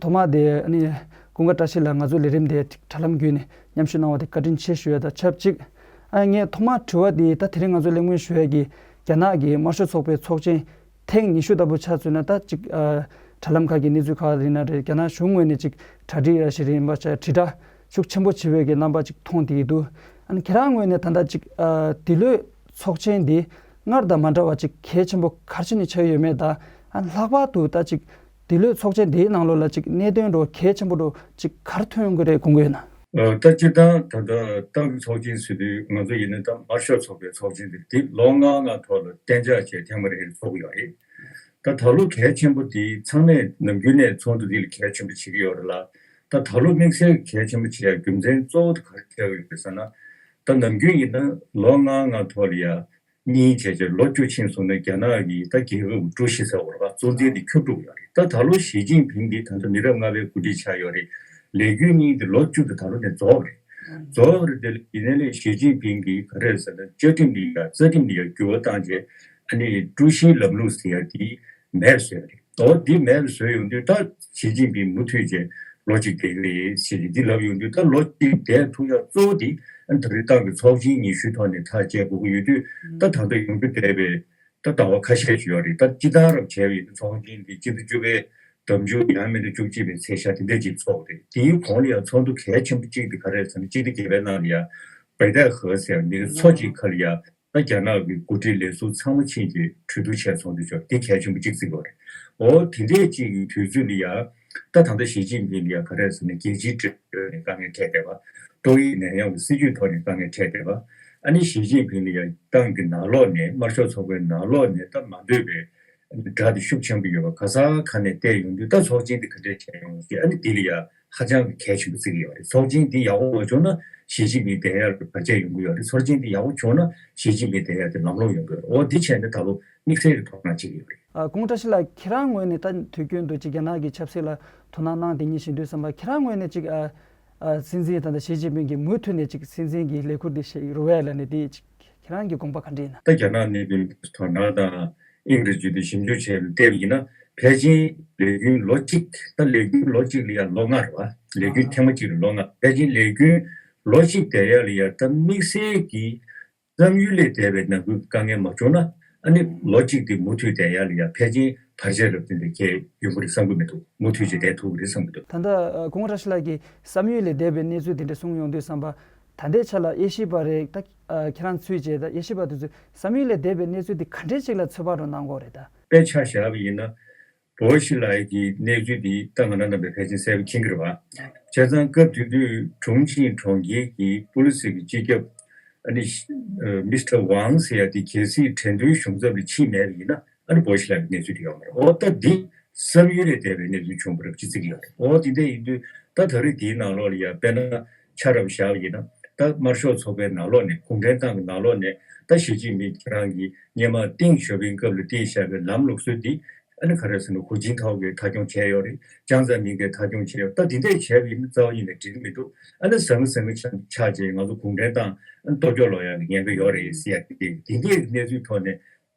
ཐོག་མར་དེ་ནི་ཀུན་དགའ་བཀྲ་ཤིས་ལ་ང་ཚོའི་ལས་རིམ་དེ་དྲ་ལམ་བརྒྱུད་ནས་མཉམ་ཞུགས་གནང་བ་དེ་བཀའ་དྲིན་ཆེ་ཞུ་བ་དང་ཆབས་ཅིག་ངས་ཐོག་མར་དྲི་བ་འདི་ད་དེ་རིང་ང་ཚོ་གླེང་མོལ་ཞུ་ཡས་ཀྱི་རྒྱ་ནག་གི་དམར་ཤོག་ཚོགས་པའི་ཚོགས་ཆེན་ཐེངས་ཉི་ཤུ་ལྟ་བུ་ཆགས་ཚུལ་ན་ད་ཅིག་དྲ་ལམ་ཁག་གི་གནས་ཚུལ་ཁག་རིག་ན་རེད་རྒྱ་ནག་གཞུང་ངོས་ནས་ཅིག་གྲ་སྒྲིག་ར་ཞིག་རིན་པ་ཆ་དྲིལ་དྲ་ཤུགས་ཆེན་པོ་བྱེད་འོས་ཀྱི་རྣམ་པ་ཅིག་མཐོང་དེ་ཡི་འདུག་ཁྱེད་རང་ངོས་ནས་ད་ལྟ་ཅིག་འདི་ལོའི་ཚོགས་ཆེན་འདི་སྔར་དང་མ་འདྲ་བ་ཅིག་གལ་ཆེན་པོ་གར་ཆེ་ནས་ཆགས་ཡོད་མེད་དང་ལྷག་པར་དུ་ད་ཅིག་འདི་ལོའི་ཚོགས་ཆེན་འདིའི་ནང་ལོ་ལ་ཅིག་གནད་དོན་འགྲོ་གལ་ཆེན་པོ་འགྲོ་ཅིག་གར་ཐོན་དགོས་རེད་དགོངས་དགོས་ན། ལྟ་ཅི་དང་ད་ལྟ་ཏང་གི་ཚོགས་ཆེན་ཟེར་དུས་ང་ཚོ་ཡིན་ན་ད་དམར་ཤོག་ཚོགས་པའི་ཚོགས་ཆེན་འདིར་འདི་ལོ་ལྔ་ལྔ་ཐོག་ལ་གཏན་འཇགས་བྱས་ཐེངས་མ་རེ་རེ་ཚོགས་ཀྱི་ཡོད་རེད། ད་ད་ལོ་གལ་ཆེན་པོ་འདི་ཚང་མས་ནམ་རྒྱུན་ནས་ཚོགས་འདུ་འདི་ལ་གལ་ཆེན་པོ་བྱེད་ཀྱི་ཡོད་རེད་ལ་ད་ད་ལོ་དམིགས་བསལ་གལ་ཆེན་པོ་བྱེད་ཡ་རྒྱུ་མཚན་གཙོ་བོ་ད་གར་ཐལ་ཡོད་རེད་ཟེར་ན། ད་ནམ་རྒྱུན་ཡིན་ན་ལོ་ལྔ་ལྔ་ཐོག་ལ་ཡ་གཉིས་བྱས་རྗེས་ལོ་བཅུ་ཕྱིན་སོང་ནས་རྒྱ་ནག་གི་ད་རྒྱལ་ཁབ་ཀྱི་ཀྲུའུ་ཞི་ཟེར་བ་རེད་པ་གཙོ་འཛིན་དེ་ཁྱོད་དཀྲུགས་ཡོད་རེད་ད་ད་ལོ་ཞི་ཅིང་ཕིང་གིས་ད་ལྟ་མི་རབས་ལྔ་པའི་བཀོད་སྒྲིག་ཆགས་ཡོད་རེད་ལས་རྒྱུན་རྙིང་དེ་ལོ་བཅུ་དང་ད་ལོ་ནས་རྫོགས་རེད། རྫོགས་རེད་དེ་ལས་ཡིན་ན་ལས་ཞི་ཅིང་ཕིང་གིས་ག་རེད་ཟེར་ན་བཅའ་ཁྲིམས་འདི་ཡར་རྩ་ཁྲིམས་འདི་ཡར་འགྱུར་བ་བཏང་རྗེས་ཨ་ནི་ཀྲུའུ་ཞིའི་ལམ་ལུགས་ཟེར་ཡ་འདི་མེར་བསྲེགས་རེད། ལོ་འདི་མེད་པའི་ཟོལ་ཡོང་དུས་ལྟར་ཞི་ཅིན་ཕིང་མུ་མཐུད་རྗེས་ལོ་གཅིག་བསྡད་ཀྱི་རེད་ཟེར་གྱི་འདི་ལབ་ཡོང་དུས་ལྟར་ལོ་གཅིག་བསྡད་ཐུག་ཡག་གཙོ་བོ་དེ་ད་རེས་ཏང་གི་ཚོགས་ཆེན་ཉི་ཤུའི་ཐོག་ནས་ཐག་བཅད་དགོས་ཀྱི་ཡོད་དུས་ད་ད་ལྟ་ཡོང་རྒྱུ་བསྡད་པའི་ད་ལྟ་བ་ཁ་ཤས་ཤིག་ཡོད་རེད་ད་སྤྱི་དང་རབ་བྱས་པ་ཡིན་དུས་ཚོགས་ཆེན་དེ་སྤྱི་ཟླ་བཅུ་པའི་དགྲམ་གཞུག་ཡང་མེད་དུ་བཅུ་གཅིག་པའི་ཚེས་ཤར་དེ་འདྲས་ཅིག་ཚོགས་རེད་དེའི་གོང་ལ་ཡང་ཚོགས་འདུ་གལ་ཆེན་པོ་གཅིག་དེ་ག་རེད་ཟེར་ན་སྤྱི་ཟླ་བརྒྱད་པའི་ནང་ལ་ཡང་བེ་ཏའི་ཧོས་ཟེར་བ་མི་རེ་ཚོགས་གཅིག་ག་ལ་ཡང། ད་རྒྱ་ནག་གི་མགོ་ཁྲིད་ལས་ཟུར་ཚང་མ་ཕྱིན་རྗེས་གྲོས་བསྡུར་བྱས་ཚོགས་འདུ་འཆོག་དེ་གལ་ཆེན་པོ་གཅིག་བརྩིགས་པ་རེད། འོ་དེ་འདྲའི་གཅིག་གི་དུས་ཚོད་ལ་ཡང། ད་ད་ལྟ་ཞི་ཅིན་ཕིང་གི་ཡང་ག་རེ་ཟེར་ནས་རྒྱལ་སྤྱིའི་འབྲེལ་བའི་ནས་དཀའ་ངལ་འཕྲད་བསྡད་པ། ཏོག་དབྱིབས་ནད་ཡམས་ཀྱི་སྲིད་ཇུས་ཐོག་ནས་དཀའ་ངལ་འཕྲད་བསྡད་པ། ཨ་ནི་ཞི་ཅིན་ཕིང་ལ་ཡང་ཏང་གི་ནང་ལོགས་ནས་དམར་ཤོག་ཚོགས་པའི་ནང་ལོགས་ནས་ད་མ་འདོད་པའི་དགྲ་དེ་ཤུགས་ཆེན་པོ་ཡོད་པ་ག་ས་ག་ནས་བསྟད་ཡོང་དུས་ད་ཚོགས་ཆེན་འདི་ག་འདྲས་བྱས་ཡོང་ཟེར་ཨ་ནི་དེ་ལ་ཡང། ཧ་ཅང་གི་གལ་ཆེན་པོ་བརྩི་གི་ཡོད་རེད་ཚོགས་ཆེན་འདི་ཡག་པོ་འོས་ཆོག་ན་ཞི་ཅིན་ཕིང་དེ་ཡར་བར་ཆད་ཡོང་གི་ཡོད་རེད་ཚོར་ཆེན་འདི་ཡག་པོ་བྱུང་ན་ཞི་ཅིན་ཕིང་དེ་ཡར་དེ་ལམ་ལྷོང་ཡོང་གི་ཡོད་རེད་འོ་འདི་བྱས་ནས་ད་ལོ་དམིགས་བསལ་གི་དོ་སྣང་བྱེད་ཀྱི་ཡོད་རེད། ཀུང་བཀྲ་ཤིས་ལགས་ཁྱེད་རང་ངོས་ནས་ད་དུས་སྐྱོན་འདུག་ཅིག་རྒྱ་ནག་གི་ཆབ་སྲིད་ལ་དོ་སྣང་གནང་དེ་ཉིད་ཞི་འདུས་བསམ་པ་ཁྱེད་རང་ངོས་ནས་ཅིག་ཨ། སྲིད་འཛིན་ད་ལྟ་ཞི་ཅིན་ཕིང་གིས་མུ་མཐུད་ནས་ཅིག་སྲིད་འཛིན་གྱི་ལས་ཁུར་དེ་བཞེས་རོལ་བས་ལ་ནས་དེ་ཅིག། ཁྱེད་རང་གི་དགོངས་པ་ག་འདྲས་ན། ད་རྒྱ་ནག་གནས་སྡོད་དོ་ནག་དང་ཨིང་རི་ཇུ་དེ་ཞིབ་འཇུག་བྱས་ལ་དེབ་ཡིན་ན་ཕལ་ཆེན་ལས་རྒྱུན་ལོ་གཅིག་ད་ལས་རྒྱུན་ལོ་གཅིག་ལ་ཡ་ལོ་ལྔ་རེད་བ་ལས་རྒྱུན་ཐེངས་མ་གཅིག་ལ་ལོ་ལྔ་ཕལ་ཆེན་ལས་རྒྱུན་ལོ་གཅིག་དེ་ཡ་ལ་ཡ་ད་དམིགས་བསལ་གི་བསམ་ཡུལ་ལས་འདས་པའི་ནང་ཁུལ་དཀའ་ངལ་མ་བྱུང་ན་ཨ་ནི་ལོ་གཅིག་དེ་མུ་མཐུད་དེ་ཡ་ལ་ཡ་ཕལ་ཆེན་བར་ཆད་རབ་བསྟུན་དེ་ཁྱེད་ཡོང་གི་རེད་བསམ་གི་མི་འདུག་མུ་མཐུད་ཅིག་བསྡད་ཐུབ་གི་རེད་བསམ་གི་འདུག། ད་ལྟ་ཀུང་རཱས་ལགས་ཀྱིས་བསམ་ཡུལ་ལས་འདས་པའི་གནས་ཚུལ་དེ་འདྲ་གསུངས་ཡོང་དུས་བསམ་པ་ད་ལྟའི་ཆ་ལ་དབྱེ་ཞིབ་པ་རེད་ད། ཁྱེད་རང་ཚུད་བྱས་ད་དབྱེ་ཞིབ་པ་དེ་ཚོས་བསམ་ཡུལ་ལས་འདས་པའི་གནས་ཚུལ་དེ་ག་འདྲའི་ཅིག་ལ་ཚོད་དཔག་རུ་གནང་དགོས་རེད་ད། དཔེ་ཆ་བཞག་པ་ཡིན་ན། བོ་ཤི་ལའི་གི་གནས་ཚུལ་དེ་ད་ང་རང་དང་པའི་ཕལ་ཆེན་གསལ་པོ་མཁྱེན་གི་རེད་བ། བྱས་ཙང་སྐབས་དེ་དུས་ཁྲུང་ཆིང་གྲོང་ཁྱེར་གྱི་པུ་ལི་སི་གི་སྤྱི་ཁྱབ། ཨ་ནི། Mister Wang ཟེར་ཡ་དེ་གལ་སྲིད་དྲན་ཐོའི་གཞུང་ཚབ་ལ་ཕྱིན་མེད་པ་ཡིན་ན་ཨ་ནི་བོ་ཤི་ལའི་གི་གནས་ཚུལ་དེ་ཡོང་མི་རེད་འོ་ད་དེ་བསམ་ཡུལ་ལས་འདས་པའི་གནས་ཚུལ་བྱུང་པ་རེད་བ་ཅི་ཚིག་གི་ཡོད་རེད་འོ་དེ་འད་ཡིན་དུས་ད་ད་རེས་དེའི་ནང་ལོགས་ལ་ཡ་དཔེར་ན་ཆ་རམ་ཞག་ཡིན་ན་ད་དམར་ཤོག་ཚོགས་པའི་ནང་ལོག་ནས་གུང་ཁྲན་ཏང་གི་ནང་ལོག་ནས་ད་ཞི་ཅིན་ཕིན་ཁྱེད་རང་གིས་སྙེ་མ་ཏིང་ཞོ་ཕིང་སྐབས་ལ་བསྟིན་བཞག་པའི་ལམ་ལུགས་སྲོལ་འདི་ཨ་ནི་ག་རེ་ཟེར་ན་ཧུ་ཅིན་ཐའོ་གིས་མཐའ་འཁྱོངས་བྱས་ཡོད་རེད་ཅང་ཙེ་མིང་གིས་མཐའ་འཁྱོངས་བྱས་ཡོད་ད་འདི་འདྲས་བྱས་པ་ཡིན་ན་རྩ་བ་ཉིད་ནས་འགྲིག་མི་འདུག་ཨ་ནི་ཟང་ངེ་ཟང་ངེ་ཆགས་རྗེས་ང་ཚོ་གུང་ཁྲན་ཏང་ཨ་ནི་ལྟོ་སྐྱོ་ལོག་ཡག་ལ་ཉན་གི་ཡོད་རེད་ཟེར་ཡག་གི་རེད་འདི་འདྲའི་གི་གནས་ཚུལ་ཐོག་ནས།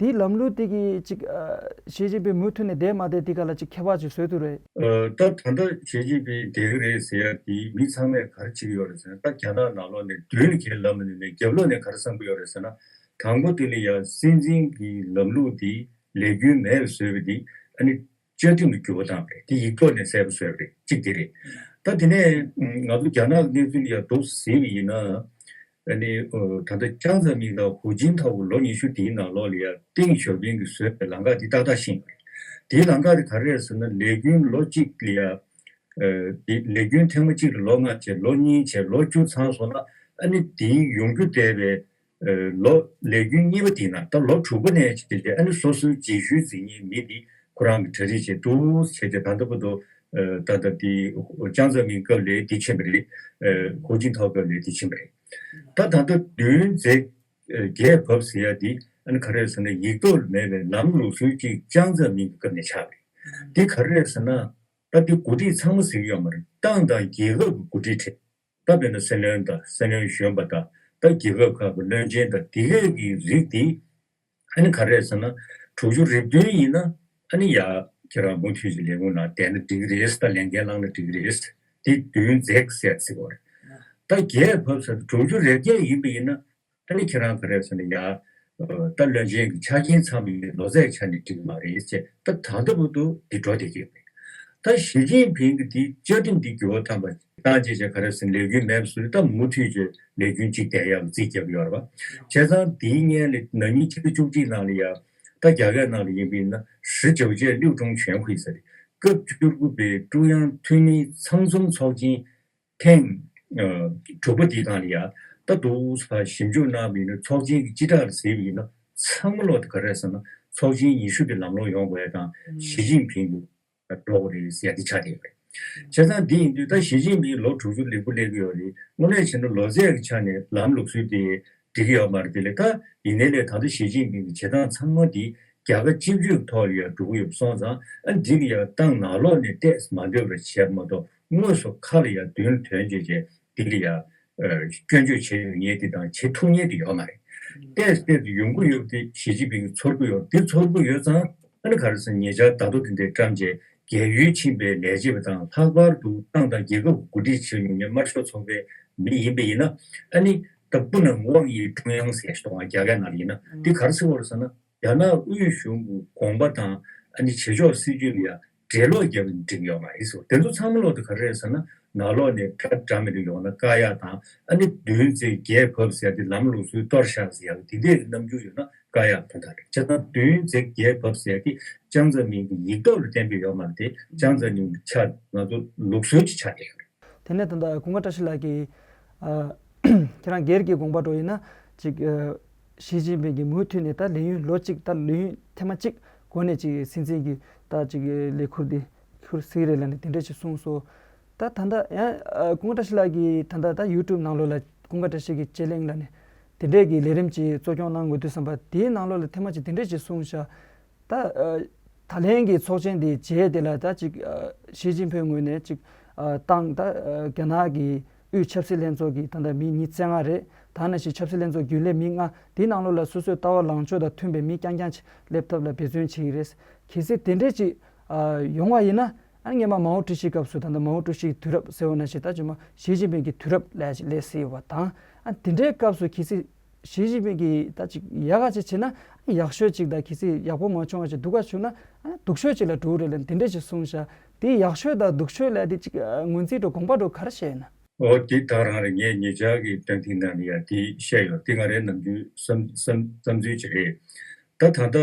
དེའི་ལམ་ལུགས་དེ་གིས་ཅིག། ཞེ་ཅིན་པིང་མུ་མཐུད་ནས་བསྡད་མ་བསྡད་དེ་ག་ལ་ཅིག་ཁྱད་པར་ཅིག་བཟོས་འདུག་རེད། སྟབས་ད་ལྟ་ཞེ་ཅིན་པིང་བསྡད་ཀྱི་རེད་ཟེར་ཡ་དེ་མི་ཚང་མས་གར་བྱེད་ཀྱི་ཡོད་རེད་ཟེར་ན་ད་རྒྱ་ནག་ནག་ལོག་ནས་དོན་གྱི་ལམ་ནས་ནས་རྒྱབ་ལོག་ནས་གར་བསམ་གྱི་ཡོད་རེད་ཟེར་ན། དང་པོ་དེ་ལས་ཡ་སྲིད་འཛིན་གྱི་ལམ་ལུགས་དེ་ལས་རྒྱུན་མེད་བཟོས་པ་དེ་ཨ་ནི། བཅོས་སྒྲིག་ལ་འགྱུར་བ་བཏང་བ་རེད་དེ་ཡིག་ཐོག་ནས་གསལ་པོ་བཟོས་པ་རེད་གཅིག་དེ་རེད། ད་དེ་ནས་ང་ཚོ་རྒྱ་ནག་གི་གནས་ཚུལ་ཡར་ལྡོག་ཟེར་བ་ཡིན་ན། ད་ལྟ་ཅང་ཙེ་མིན་དང་ཧུའུ་ཅིན་ཐའོ་ལོ་ཉི་ཤུ་དེའི་ནང་ལོགས་ལ་ཡར་ཏིང་ཞོ་ཕིང་གིས་བཟོས་པའི་ལམ་ཁ་དེ་ཏག་ཏག་ཤེས་ཡོད་རེད། དེའི་ལམ་ཁ་དེ་ག་རེད་ཟེར་ན་ལས་རྒྱུན་ལོ་གཅིག་ལ་ཡར། ལས་རྒྱུན་ཐེངས་མ་གཅིག་ལ་ལོ་ལྔ་བྱས་ལོ་གཉིས་བྱས་ལོ་བཅུ་ཚང་སོང་ན་ཨ་ནི་དེའི་ཡོང་རྒྱུ་འདས་པའི། ལོ། ལས་རྒྱུན་གཉིས་པ་དེ་ན་ད་ལོ་དྲུག་པ་ནས་བྱས་རྗེས་ཨ་ནུ་སོ་སོའི་རྗེས་ཤུལ་འཛིན་ངེས་མི་འདི་ཁོ་རང་གི་གྲ་རིག་བྱས་འདུག་བྱས་རྗེས་ད་ལྟ་བུ་དོ། ད་ལྟ་དེ་ཅང་ཙེ་མིན་སྐབས་ལས་དེ་ཕྱིན་པ་རེད། ཧུའུ་ཅིན་ཐའོ་སྐབས་ལས་དེ་ཕྱིན་པ་རེད། ད་ད་ལྟ་བདུན་མཛད། རྒྱས་བབས་ཟེར་ཡ་འདི་ཨ་ནུ་ག་རེད་ཟེར་ན་ཡིག་ཐོག་ལ་མེད་པའི་ལམ་ལུགས་ཚུལ་གཅིག་ཅང་ཙེ་མིན་གྱི་སྐབས་ནས་ཆགས་པ་རེད། འདི་ག་རེད་ཟེར་ན། ད་འདི་འགོ་ཁྲིད་ཚང་མ་ཟིག་ཡོད་མ་རེད་ཏང་དང་རྒྱལ་ཁབ་ཀྱི་འགོ་ཁྲིད་ཁྲིད། ད་བོད་ན་སྲིད་བློན་དང་སྲིད་བློན་གཞོན་པ་དག་ད་རྒྱལ་ཁབ་ཁག་གི་བློན་ཆེན་དང་དེ་ལས་ཀྱི་རིགས་དེ་ཨ་ནི་ག་རེད་ཟེར་ན་དྲུག་ཅུ་རེ་བདུན་ཡིན་ན་ཨ་ནི་ཡ་ཁྱེད་རང་དགུང་ཐུན་གྱི་ལས་ཁུངས་ནང་བསྡད་ན་འགྲིག་གི་རེད་ད་ལས་འགན་བླངས་ན་འགྲིག་གི་རེད་དེ་བདུན་འཛེགས་ཟེར་ཟིག་གོ་རེད་ད་རྒྱལ་ཕབ་ཟེར་ན་དྲུག་ཅུ་རེ་བརྒྱད་ཡིན་པ་ཡིན་ན་ད་ནི་ཁྱེད་རང་ག་རེ་བསམ་ནས་ཡ། ད་བློན་ཆེན་གྱི་ཆ་རྐྱེན་ཚང་མ་ནི་ལོ་ཙཱའི་ཆ་ནས་བྲིས་མ་རེད་ཅེས་ད་ད་ལྟ་བུ་དུ་འདི་འགྲོ་བསྡད་ཀྱི་རེད། ད་ཞི་ཅིན་ཕིང་གི་འདི་བཅའ་ཁྲིམས་འདི་འགྱུར་བ་ཐམས་པ་བཏང་རྗེས་ཅེས་ག་རེ་བསམ་ལས་རྒྱུན་མེད་ཟུར་ལྟ་མུ་མཐུད་བྱས་ལས་རྒྱུན་གཅིག་བསྡད་ཡག་གི་རྩིས་རྒྱབ་ཡོད་རེད་བ། བྱས་ཙང་འདིའི་བརྙན་ལས་ན་ཉིན་ཁྲི་བཅུ་གཅིག་ནང་ལ་ཡ། ད་རྒྱ་གར་ནང་ལ་ཡིན་པའི་ན་ཧྲི་ཇོ་ཇེ་གླིའུ་ཀྲུང་ཆོན་ཧུའེ་ཟེར། སྐབས་བཅུ་དགུ་པའི་ཀྲུང་དབྱང་འཐུས་མིའི་ཚང་འཛོམས་ཚོགས་ཆེན། ཐེངས། དྲུག་པ་འདི་དང་ལ་ཡག་ད་འདུག་ད་ཞིབ་འཇུག་གནང་བའི་ནི་ཚོགས་ཆེན་གྱི་སྤྱི་བསྒྲགས་ལ་གཟིགས་པ་ཡིན་ན་ཚང་མ་ལོག་དེ་ག་རེད་ཟེར་ན་ཚོགས་ཆེན་ཉི་ཤུ་དེ་ལམ་ལོག་ཡོང་དགོས་དང་ཞི་ཅིང་ཕིང་གི་འགྲོ་གི་རེད་ཟེར་ཡ་འདི་ཆ་དེ་ཡོད་རེད། བྱས་ཙང་འདི་ཡིན་དུས་ད་ཞི་ཅིང་ཕིང་ལོ་དྲུག་ཅུ་ལེགས་པོ་སླེབས་ཀྱི་ཡོད་རེད་དངོས་གནས་བྱས་ན་ལོ་ཚད་ཀྱི་ཆ་ནས་ལམ་ལུགས་ཚུལ་དེ་འགྲིག་གི་ཡོད་མ་རེད་དེ་ལས་ད་ཡིན་ནའི་ལས་ད་ལྟ་ཞི་ཅིང་ཕིང་གི་བྱེད་སྟངས་ཚང་མ་དེ་རྒྱ་གར་སྤྱི་བྱུས་ཀྱི་ཐོག་ལ་ཡ་འགྲོ་གི་ཡོད་པ་སོང་ཙང་ཨ་འགྲིག་གི་ཡ་ཏང་ནང་ལོག་ནས་བལྟས་མ་འདོད་པ་རེ་བྱས་པ་མ་གཏོགས་དངོས་སུ་མཁའ་ལ་ཡ་བདུན་ལ་དོན་བྱེད་ཅེས་འདི་འདྲ་ཡ། སྐྱོན་བརྗོད་བྱེད་ཡོང་ཉེན་དེ་དང་བྱེད་ཐུབ་ཉེན་དེ་ཡོད་མ་རེད། བལྟས་སུ་བལྟས་དུས་ཡོང་གི་ཡོད་དེ་ཞི་ཅིན་ཕིང་གི་ཚོར་གི་ཡོད་འདི་ཚོར་གི་ཡོད་ཙང་ཨ་ནི་ག་རེ་ཟེར་ཉེ་ཆར་བརྡ་ཐོ་དེ་འདྲས་བཀྲམ་རྗེས་རྒས་ཡོལ་ཕྱིན་པའི་ལས་བྱེད་པ་དང་ལྷག་པར་དུ་ཏང་དང་རྒྱལ་ཁབ་ཀྱི་འགོ་ཁྲིད་བྱེད་མྱོང་མཁན་དམར་ཤོག་ཚོགས་པའི་མི་ཡིན་པ་ཡིན་ན་ཨ་ནི་ད་སྤུ་ནང་དབང་ཡིག་ཀྲུང་དབྱང་ཟེར་བཞིན་དུའང་རྒྱ་སྐད་ནང་ལ་ཡིན་ན་འདི་ག་རེ་ཟེར་བ་རེད་ཟེར་ན། རྒྱ་ནག་དབུས་གཞུང་གི་དགོངས་པ་དང་ཨ་ནི་བྱེད་ཕྱོགས་སྲིད་ཇུས་ལ་ཡང་འགྲེལ་ལོག་རྒྱབ་ནས་འགྲིག་ཡོད་མ་རེད་ཟེར་བ་དེ་ཚོ་ཚང་མ་ལོག་དེ་ག་རེད་ཟེར་ན་ནག་ལོག་ནས་ཕེབས་དགྲ་མི་འདུག་ཡོང་ན་དཀའ་ཡག་དང་ཨ་ནི་བདུན་རྩེ་བརྒྱད་བབས་ཟེར་དེ་ལམ་ལུགས་སུའི་གཏོར་བཤག་ཟེར་ཡག་དེ་འདྲས་ཀྱི་རྣམ་འགྱུར་ཡོད་ན་དཀའ་ཡག་དེ་འདྲ་རེད་ཅེ་ན་བདུན་རྩེ་བརྒྱད་བབས་ཟེར་དེ་ཅང་ཙེ་མིན་གྱི་ཡིག་ཐོག་ལ་བསྟན་པའི་ཡོད་མ་རེད་དེ་ཅང་ཙེ་མིན་གྱི་ཆ་དེ་ང་ཚོ་ལུགས་སྲོལ་གྱི་ཆ་དེ་ཡོད་རེད། དེ་ནས་ད་ལྟ་ཀུན་དགའ་བཀྲ་ཤིས་ལགས་ཀྱིས། ཁྱེད་རང་སྒེར་གྱི་དགོངས་པ་འགྲོ་ཡིན་ན། ཅིག། ཞི་ཅིན་ཕིང་གིས་མུ་མཐུད་ནས་ད་ལོའི་ཡུན་ལོ་གཅིག་ད་ལོའི་ཡུན་ཐེངས་མ་གཅིག་གོ་གནས་ཀྱི་སྲིད་འཛིན་གྱི་ད་ཅིག་ལས་འཁུར་དེ་ཁུར་བསིག་རེད་ལ་ནི་དེ་འདྲ་ཞིག་གསུངས་སོ། ད་ད་ལྟ་ཡང་ཀུན་དགའ་བཀྲ་ཤིས་ལགས་ཀྱིས་ད་ལྟ་ད་ཡུལ་གྲུབ་ནང་ལོགས་ལ་ཀུན་དགའ་བཀྲ་ཤིས་ཀྱི་དཔྱད་གླེང་ལ་ནི་དེ་འདྲས་ཀྱི་ལས་རིམ་གྱིས་གཙོ་སྐྱོང་གནང་དགོས་དུས་བསམ་པ་དེའི་ནང་ལོགས་ལ་ཐེངས་མ་གཅིག་དེ་འདྲས་ཞིག་གསུངས་བཞག་ད། ད་ལན་གྱི་ཚོགས་ཆེན་དེའི་རྗེས་དེ་ལ་ད་ཅིག་ཞི་ཅིན་ཕེན་ངོས་ནས་ཅིག་ཏང་ད་རྒྱ་ནག་གི་དབུས་ཆབ་སྲིད་ལྷན་ཚོགས་ཀྱི་ད་ལྟ་མི་ཉིས་བརྩེགས་ལྔ་རེད་ད་ནས་ཞིག་ཆབ་སྲིད་ལྷན་ཚོགས་རྒྱུན་ལས་མི་ལྔ་དེའི་ནང་ལོ་ལ་སོ་སོའི་ལྟ་བ་ལང་ཕྱོགས་དང་མཐུན་པའི་མི་རྐྱང་རྐྱང་སླེབས་ཐབས་ལ་འབད་བརྩོན་བྱེད་ཀྱི་རེད། གལ་སྲིད་དེ་འདྲས་ཅིག་ཡོང་བ་ཡིན་ན། སྔན་མ་མའོ་ཀྲི་ཞིའི་སྐབས་སུ་ད་ལྟ་མའོ་ཀྲུ་ཞིའི་དུས་རབས་ཟེར་བ་ན་ཞིག་ད་ཕྱི་མ་ཞི་ཅིན་ཕེན་གྱི་དུས་རབས་ལས་ཅིག་སླེབས་སྲིད་བ་དང། དེ་འདྲའི་སྐབས་སུ་གལ་སྲིད། ཞི་ཅིན་ཕིང་གིས་ད་ཅིག་ཡག་ག་ཅིག་བྱས་ན་ཡག་ཤོས་ཅིག་དང་གལ་སྲིད་ཡག་པོ་མ་བྱུང་བ་ཅིག་སྡུག་ག་བྱུང་ན་སྡུག་ཤོས་ཅིག་ལ་འགྲོ་རེད་ལ་འདི་འདྲ་ཅིག་གསུངས་བཞག་དེའི་ཡག་ཤོས་དང་སྡུག་ཤོས་ལ་དེ་ཅིག་ངོས་འཛིན་སྒྲོ་དགོངས་པ་སྒྲོ་གར་བྱས་ན། འོ་དེ་དག་རང་རེད་ངས་ངེད་ཅག་གི་དྲན་ཐིག་ནང་ནས་ཡང་དེ་བཤད་ཡོད་དེ་ང་རའི་ནམ་རྒྱུན་བསམ་ཚུལ་ཅིག་རེད། ད་ད་ལྟ་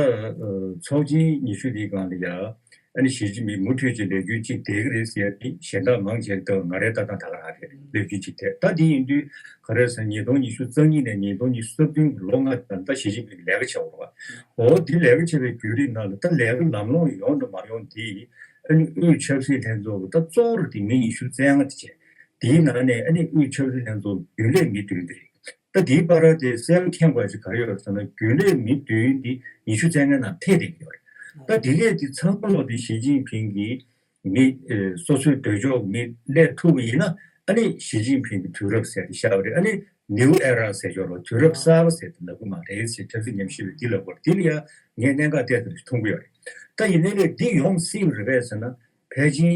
ཚོགས་ཆེན་ཉི་ཤུ་འདིའི་སྒང་ལ་ཡ་ཨ་ནི་ཞི་ཅིན་ཕིང་མུ་མཐུད་ཀྱི་ལས་རྒྱུན་གཅིག་དེ་ག་རེད་ཟེར་ཡ་ནི་གཞན་དག་མང་ཆེ་རིགས་ལྟ་བ་ང་རའི་ལྟ་སྟངས་ད་ག་རང་རེད་ལས་རྒྱུན་གཅིག་དེ་ད་དེ་ཡིན་དུས་ག་རེ་ཟེར་ཉིས་སྟོང་ཉི་ཤུ་རྩ་གཉིས་ནས་ཉིས་སྟོང་ཉི་ཤུ་རྩ་བདུན་གྱི་ལོ་ལྔ་དང་ད་ཞི་ཅིན་ཕིང་གི་ལས་ཀ་བྱེད་འོ་རོགས་ཨོ་དེ་ལས་ཀ་བྱེད་པའི་རྒྱུ་རིགས་ནང་ལ་ད་ལས་ཀ་ལམ་ལྷོང་ཡོང་དང་མ་ཡོང་དེ་ཨ་ནི་དབུས་ཆབ་སྲིད་ལྷན་ཚོགས་ཀྱི་ད་གཙོ་བོར་དེ་མི་ཉི་ཤུ་རྩ་ལྔ་དེ་བྱེད་དེའི་ནང་ནས་ཨ་ནི་དབུས་ཆབ་སྲིད་ལྷན་ཚོགས་རྒྱུན་ལས་མི་བདུན་དེ་རེད། ད་དེའི་པར་ར་དེ་སེལ་མཁན་བ་ཞིག་ག་རེ་ཡོད་ཟེར་ན་རྒྱུན་ལས་མི་བདུན་དེ་ཉི་ཤུ་ཚན་ལྔའི་ནང་ཐེ་བསྡད་ཀྱི་ཡོད་རེད། ད་དེ་གས་དེ་ཚང་མ་ལོག་དེ་ཞི་ཅིང་ཕིང་གི་མི་སོ་སོའི་འདོད་ཕྱོགས་མི་ལས་ཐུབ་པ་ཡིན་ན་ཨ་ནི་ཞི་ཅིང་ཕིང་གི་དུས་རབས་ཟེར་དེ་ཤར་བ་རེད་ཨ་ནི་ནིའུ་ཨེ་ར་ཟེར་ཤོར་བ་དུས་རབས་གསར་བ་ཟེར་དེ་ལབ་གི་མ་རེད་ཅེས་ཁྲེན་ཚེ་ཉམས་ཞིབ་པའི་འདི་ལབ་སྐོར་དེ་ལ་ཡང་ངས་གནད་འགག་གཏད་ཟིན་པ་ཞིག་མཐོང་གི་ཡོད་རེད། ད་ཡིན་གནས་ལས་འདི་ཡོང་སྲིད་པ་རེད་པས་ཟེར་ན་བྷེ་ཅིན་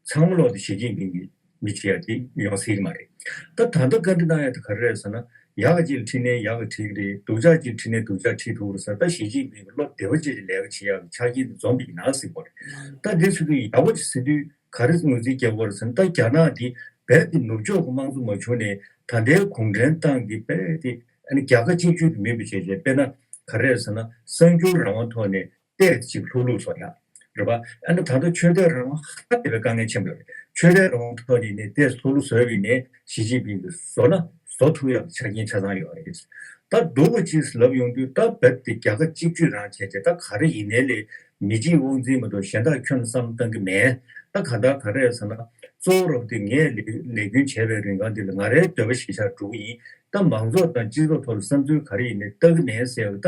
ཚང་མ་བློ་འདི་ཞི་རྒྱས་འགྱིང་གིས་མི་བྱེད་ཡ་དེ་ཡོང་སྲིད་ཀྱི་མ་རེད། ད་ད་ལྟ་བཀའ་འདྲི་གནང་ཡ་དེ་ག་རེ་རེད་ཟེར་ན་ཡག་ག་ཅིག་ལ་འཁྲིད་ནའི་ཡག་ག་འཁྲིད་གི་རེད་སྡུག་ཅག་ཅིག་ལ་འཁྲིད་ནའི་སྡུག་ཅག་འཁྲིད་ཐུབ་རེད་ཟེར་ད་ཞི་རྒྱས་འགྱིང་གི་བློ་བདེ་བོ་ཅི་ཞིག་ལས་ག་ཆེ་ཡག་གི་ཆ་རྐྱེན་དེ་འཛོམས་པའི་ཡིན་ནའང་སྲིད་པོ་རེད། ད་འདིར་ཆུ་ཚོད་ཡག་པོ་ཅིག་ཟིན་དུས་ག་རེ་ངོས་འཛིན་རྒྱག་དགོས་རེད་ཟེར་ན་ད་རྒྱ་ནག་དེ་རྦད་དེ་ནུབ་ཕྱོགས་ཀྱི་དམངས་གཙོ་མ་བྱུང་ནས་ད་ལྟའི་གུང་ཁྲན་ཏང་གིས་རྦད་དེ་རྒྱ་ཁ་གཅིག་གཅོད་ཀྱི་མིན་པ་བྱས་བྱས་དཔེར་ན་ག་རེ་རེད་ཟེར་ན་གསར་འགྱུར་རང་དབང་ཐོག་ནས་གཏེར་རི་ཆིབས་ལྷུག་ལྷུག་སོགས་ཀྱང་རེད། བ་ཨ་ནི་ད་དུང་ཆོས་དད་རང་དབང་ཧ་ཅང་ལྡན་པའི་དཀའ་ངལ་ཆེན་པོ་ཡོད། ཆོས་དད་རང་དབང་ཐོག་ནས་ནས་གཏེར་ལྷུག་ལྷུག་བཟོ་ཡི་ནས་ཞི་ཅིན་ཕིང་གི་བཟོ་ན་བཟོ་ཐུབ་ཡག་ཆ་རྐྱེན་ཆ་ཚང་ཡོད་རེད། ད་སྡུག་པོ་གཅིག་ལབ་ཡོང་དུས་ད་བབ་དེ་རྒྱ་ཁ་གཅིག་གཅོད་རང་བྱས་ཏེ་ད་ག་རེ་ཡིན་ནའི་ལས་མི་གཅིག་དབང་འཛིན་མ་གཏོགས་གཞན་དག་ཁྱོད་བསམ་བཏང་གི་མེད་ད་ག་ལྟར་ག་རེད་ཟེར་ན་གཙོ་བོ་རོབ་དེ་ངས་ལས་ལས་རྒྱུན་བྱས་པའི་རིང་གང་དེ་ལ་ང་རའི་འདོད་པ་ཞེ་ཆགས་འགྲོ་གི་ཡིན་ད་མང་ཚོགས་དང་སྤྱི་ཚོགས་ཐོག་ལ་བསམ་ཚུལ་ག་རེ་ཡིན་ནའི་བཏགས་གི་མེད་ཟེར་བ་ད་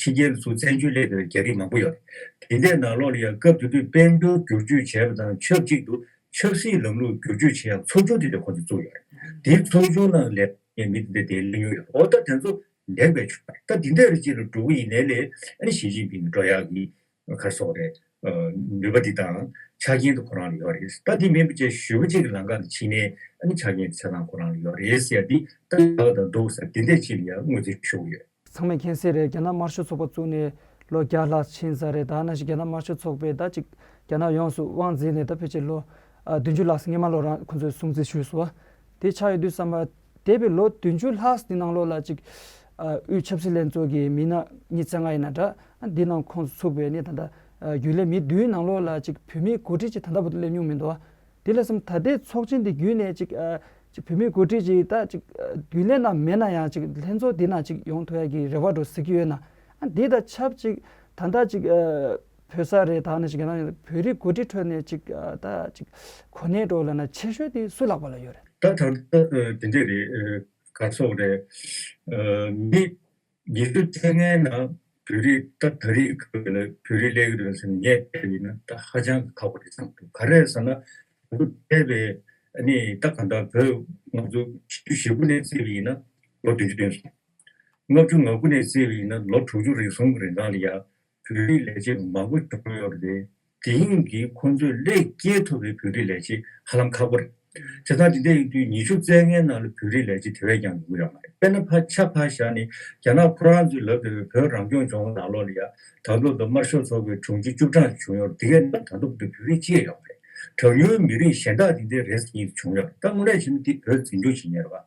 ཕྱི་རྒྱལ་དུ་བཙན་བྱོལ་སླེབས་པའི་རྒྱ་རིགས་མང་པོ་ཡོད། དེ་འདྲའི་ནང་ལོགས་ལ་ཡང་སྐབས་དེ་དུས་དཔལ་འབྱོར་བསྒྱུར་བཅོས་བྱས་པ་དང་ཆབས་ཅིག་ཏུ་ཆབ་སྲིད་ལམ་ལུགས་བསྒྱུར་བཅོས་བྱེད་ཡང་ཚོགས་ཆུང་དེ་འདྲ་ཁོ་ཚོས་བཙུགས་ཡོད་རེད། དེའི་ཚོགས་ཆུང་ནང་ལས་ཀ་བྱེད་མཁན་མི་དེ་འདྲ་དེ་འདྲ་ཉུང་ཡོད། འོ་ད་དེ་ཚོ་ལེགས་པའི་ཆོས་རེད། ད་དེ་འདྲ་རེ་ཅིག་ལ་འགྲོ་གི་ཡིན་ནའི་ལེ། ཨ་ནི་ཞི་ཅིན་ཕིང་གི་སྒྲོ་ཡག་གིས་མཁར་སོགས་རེད། ནུས་པ་འདི་དང་ཆ་རྐྱེན་དུ་ཁོ་རང་ལ་ཡོད་རེད། ལྟ་དེ་མིན་པ་བཅས་ཞོལ་པོ་ཅིག་གི་ལང་ཀ་ལ་ཕྱིན་ནས་ཨ་ནི་ཆ་རྐྱེན་ཚད་ལངས་ཁོ་རང་ལ་ཡོད་རེད་ཟེར་ཡ་འདི་ལྟ་བ་དང་འདུག་ས་དེ་འདས་ཕྱིན་ལ་ཡང་དངུལ་རྩིས་ཤོར་ཡོད། ཚང་མས་མཁྱེན་གསལ་རེད་རྒྱ་ནག་དམར་ཤོག་ཚོགས་པ་བཙུགས་ནས་ལོ་བརྒྱ་ལྷག་ཕྱིན་ས་རེད་ད་ནང་བཞིན་རྒྱ་ནག་དམར་ཤོག་ཚོགས་པས་ཟླ་གཅིག་རྒྱ་ནག་ཡོངས་སུ་དབང་འཛིན་ནས་ད་ཕལ་ཆེར་ལོ། བདུན་ཅུ་ལྷག་སོང་སྔས་མ་ལོ་རང་ཁོང་ཚོས་སྲུང་བརྩི་ཞུས་སོ། དེ་ཆགས་ཡོད་དུས་བསམ་པ། འདས་པའི་ལོ་བདུན་ཅུ་ལྷག་གི་ནང་ལོགས་ལ་གཅིག་དབུས་ཆབ་སྲིད་ལྷན་ཚོགས་ཀྱི་མི་སྣ་གཉིས་བཙན་བཀའ་ཡིན་ན་འདྲ། འདི་ནང་ཁོངས་སུ་ཚུགས་པའི་ནི་ད་ལྟ་རྒྱུན་ལས་མི་བདུན་ནང་ལོགས་ལ་གཅིག་བུད་མེད་འགོ་ཁྲིད་ཅིག་ད་ལྟ་བུ་དུ་སླེབས་མྱོང་མི་འདུག་ཨ། དེ་ལས་གསུམ་ད་ལྟའི་ཚོགས་ཆེན་འདི་བརྒྱུད་ནས་གཅིག་བུད་མེད་འགོ་ཁྲིད་ཅིག་ད་གཅིག་རྒྱུན་ལས་ནང་མེད་ན་ཡང་གཅིག་ལྷན་ཚོགས་འདི་ནང་གཅིག་ཡོང་ཐུབ་ཡག་གི་རེ་བ་འགྲོ་སྲིད་ཀྱི་ཡོད་ན། འདི་དང་ཆབས་ཅིག་ད་ལྟ་གཅིག། བོད་ས་རེད་ད་ནི་ཅིག་རང་ཡང་བོད་རིགས་གོ་སྒྲིག་ཁྲོད་ནས་ཅིག་ད་ཅིག་གོ་གནས་འགྲོ་ལ་ན་ཆེ་ཤོས་དེ་སུ་ལགས་པ་ལ་ཡོད་རེད། ད་ཐང་ད་དེ་འདྲས་རེད་ག་སོགས་རེད། མི་ཉིས་བཅོ་བརྒྱད་ལྔའི་ནང་བོད་རིགས་ད་ད་རིགས་ག་བའི་ལ་བོད་རིགས་ལས་ཀ་དོན་ཟེར་ནས་ངས་བལྟས་ཡིན་ན་ད་ཧ་ཅང་གི་ཁག་པོ་རེད་བསམ་འདུག་ག་རེད་ཟེར་ན་ད་དུ་བལྟས་པས་ནི་ད་གང་ལྟར་བོད་ང་ཚོ་བཞི་བཅུ་ཞེ་དགུ་ནས་བརྩིས་པ་ཡིན་ན་ལོ་བདུན་ཅུ་བདུན་སོང། ལྔ་བཅུ་ང་དགུ་ནས་བརྩིས་པ་ཡིན་ན་ལོ་དྲུག་ཅུ་རེ་ཟུང་གི་རིན་ཐང་ལ་ཡ་བོད་རིགས་ལས་བྱེད་མང་པོ་བསྐྱོན་ཡོད་པ་རེད། དེ་ཡིན་གྱི་ཁོང་ཚོས་ལེགས་སྐྱེས་ཐོབ་པའི་བོད་རིགས་ལས་བྱེད་ཧ་ལམ་ཁག་པོ་རེད། བྱེད་སྟངས་དེ་འདྲས་ཡོད་དུས་ཉི་ཤུ་རྩེ་ལྔའི་ནང་ལ་བོད་རིགས་ལས་བྱེད་དེ་བས་ཀྱང་ཡོང་གི་ཡོད་མ་རེད། དཔེར་ན་ཕ་ཆ་ཕ་ཞང་ནི་རྒྱ་ནག་ཁོ་རང་ཚོས་ལབ་བསྡད་པའི་བོད་རང་སྐྱོང་ལྗོངས་ནང་ལོགས་ལ་ཡ། དང་ཐོག་ཏུ་དམར་ཤོག་ཚོགས་པའི་དྲུང་ཆེ་བཅུ་གྲངས་ཤིག་བྱུང་ཡོད་རེད་དེ་གའི་ནང་དང་ཐོག་ཏུ་བོད་རིགས་གཅིག་ཡང་ཡོད་མ་རེད། གྲངས་ཉུང་མི་རིགས་གཞན་དག་དེ་འདྲའི་རེས་གཉིས་ཀྱིས་བྱུང་ཡོད་རེད་ད་སྔོན་ལས་བྱེད་མི་དེ་བོད་འཛིན་སྐྱོང་བྱེད་ཉེར་བ།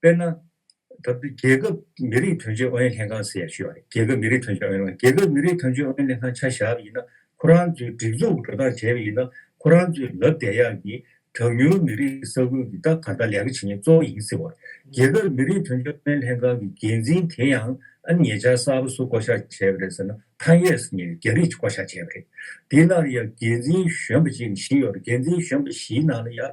དཔེར་ན། ད་ལྟ་རྒྱལ་ཁབ་མི་རིགས་དོན་གཅོད་ཨུ་ཡོན་ལྷན་ཁང་ཟེར་ཡག་ཤོས་ཡོད་རེད་རྒྱལ་ཁབ་མི་རིགས་དོན་གཅོད་ཨུ་ཡོན་ལྷན་ཁང་རྒྱལ་ཁབ་མི་རིགས་དོན་གཅོད་ཨུ་ཡོན་ལྷན་ཁང་ཆ་བཞག་པ་ཡིན་ན་ཁོ་རང་ཚོའི་སྒྲིག་འཛུགས་འགྲོ་སྟངས་བྱས་པ་ཡིན་ན་ཁོ་རང་ཚོའི་ལབ་བསྡད་ཡག་གི་གྲངས་ཉུང་མི་རིགས་ས་ཁུལ་གྱི་ད་ག་ད་ལས་ཀ་བྱེད་མཁན་གཙོ་བོ་ཡིན་སྲིད་བ། རྒྱལ་ཁབ་མི་རིགས་དོན་གཅོད་ཨུ་ཡོན་ལྷན་ཁང་གི་འགན་འཛིན་དེ་ཡང་ཨ་ཉེ་ཆར་གསར་པ་སུ་བསྐོ་བཞག་བྱས་པ་རེད་ཟེར་ན་ཐང་ཡེ་སི་ཉིད་རྒྱ་རིགས་ཀྱིས་བསྐོ་བཞག་བྱས་པ་རེད། དེ་ནང་ལ་ཡང་འགན་འཛིན་གཞོན་པ་གཅིག་ནས་བཞི་ཡོད་རེད་འགན་འཛིན་གཞོན་པ་བཞིའི་ནང་ལ་ཡང་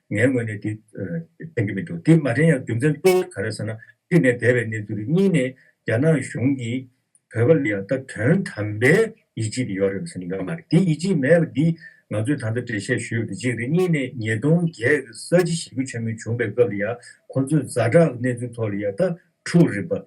ངའི་ངོས་ནས་དེ་དྲན་གྱི་མི་འདུག་དེ་མ་དྲན་ཡང་རྒྱུ་མཚན་གཙོ་བོ་ག་རེ་ཟེར་ན་གཅིག་ནས་འདས་པའི་གནས་ཚུལ་རེད་གཉིས་ནས་རྒྱ་ནག་གཞུང་གིས་བོད་པ་ལ་ཡང་ད་དོན་དམ་པའི་ཡིད་ཆེས་དེ་ཡོད་རེད་པ་ཟེར་ནི་ཡོད་མ་རེད་དེ་ཡིད་ཆེས་མེད་པ་འདི་ང་ཚོས་ད་ལྟ་འགྲེལ་བཤད་ཞུས་པ་དེ་གཅིག་རེད་གཉིས་ནས་ཉིས་སྟོང་བརྒྱད་ཀྱི་ས་བྱི་ཞི་རྒོལ་ཆེན་མོའི་བྱུང་པའི་སྐབས་ལ་ཡང་ཁོང་ཚོས་རྫ་དྲག་གི་གནས་ཚུལ་ཐོག་ལ་ཡང་ད་འཁྲུག་རེད་པ།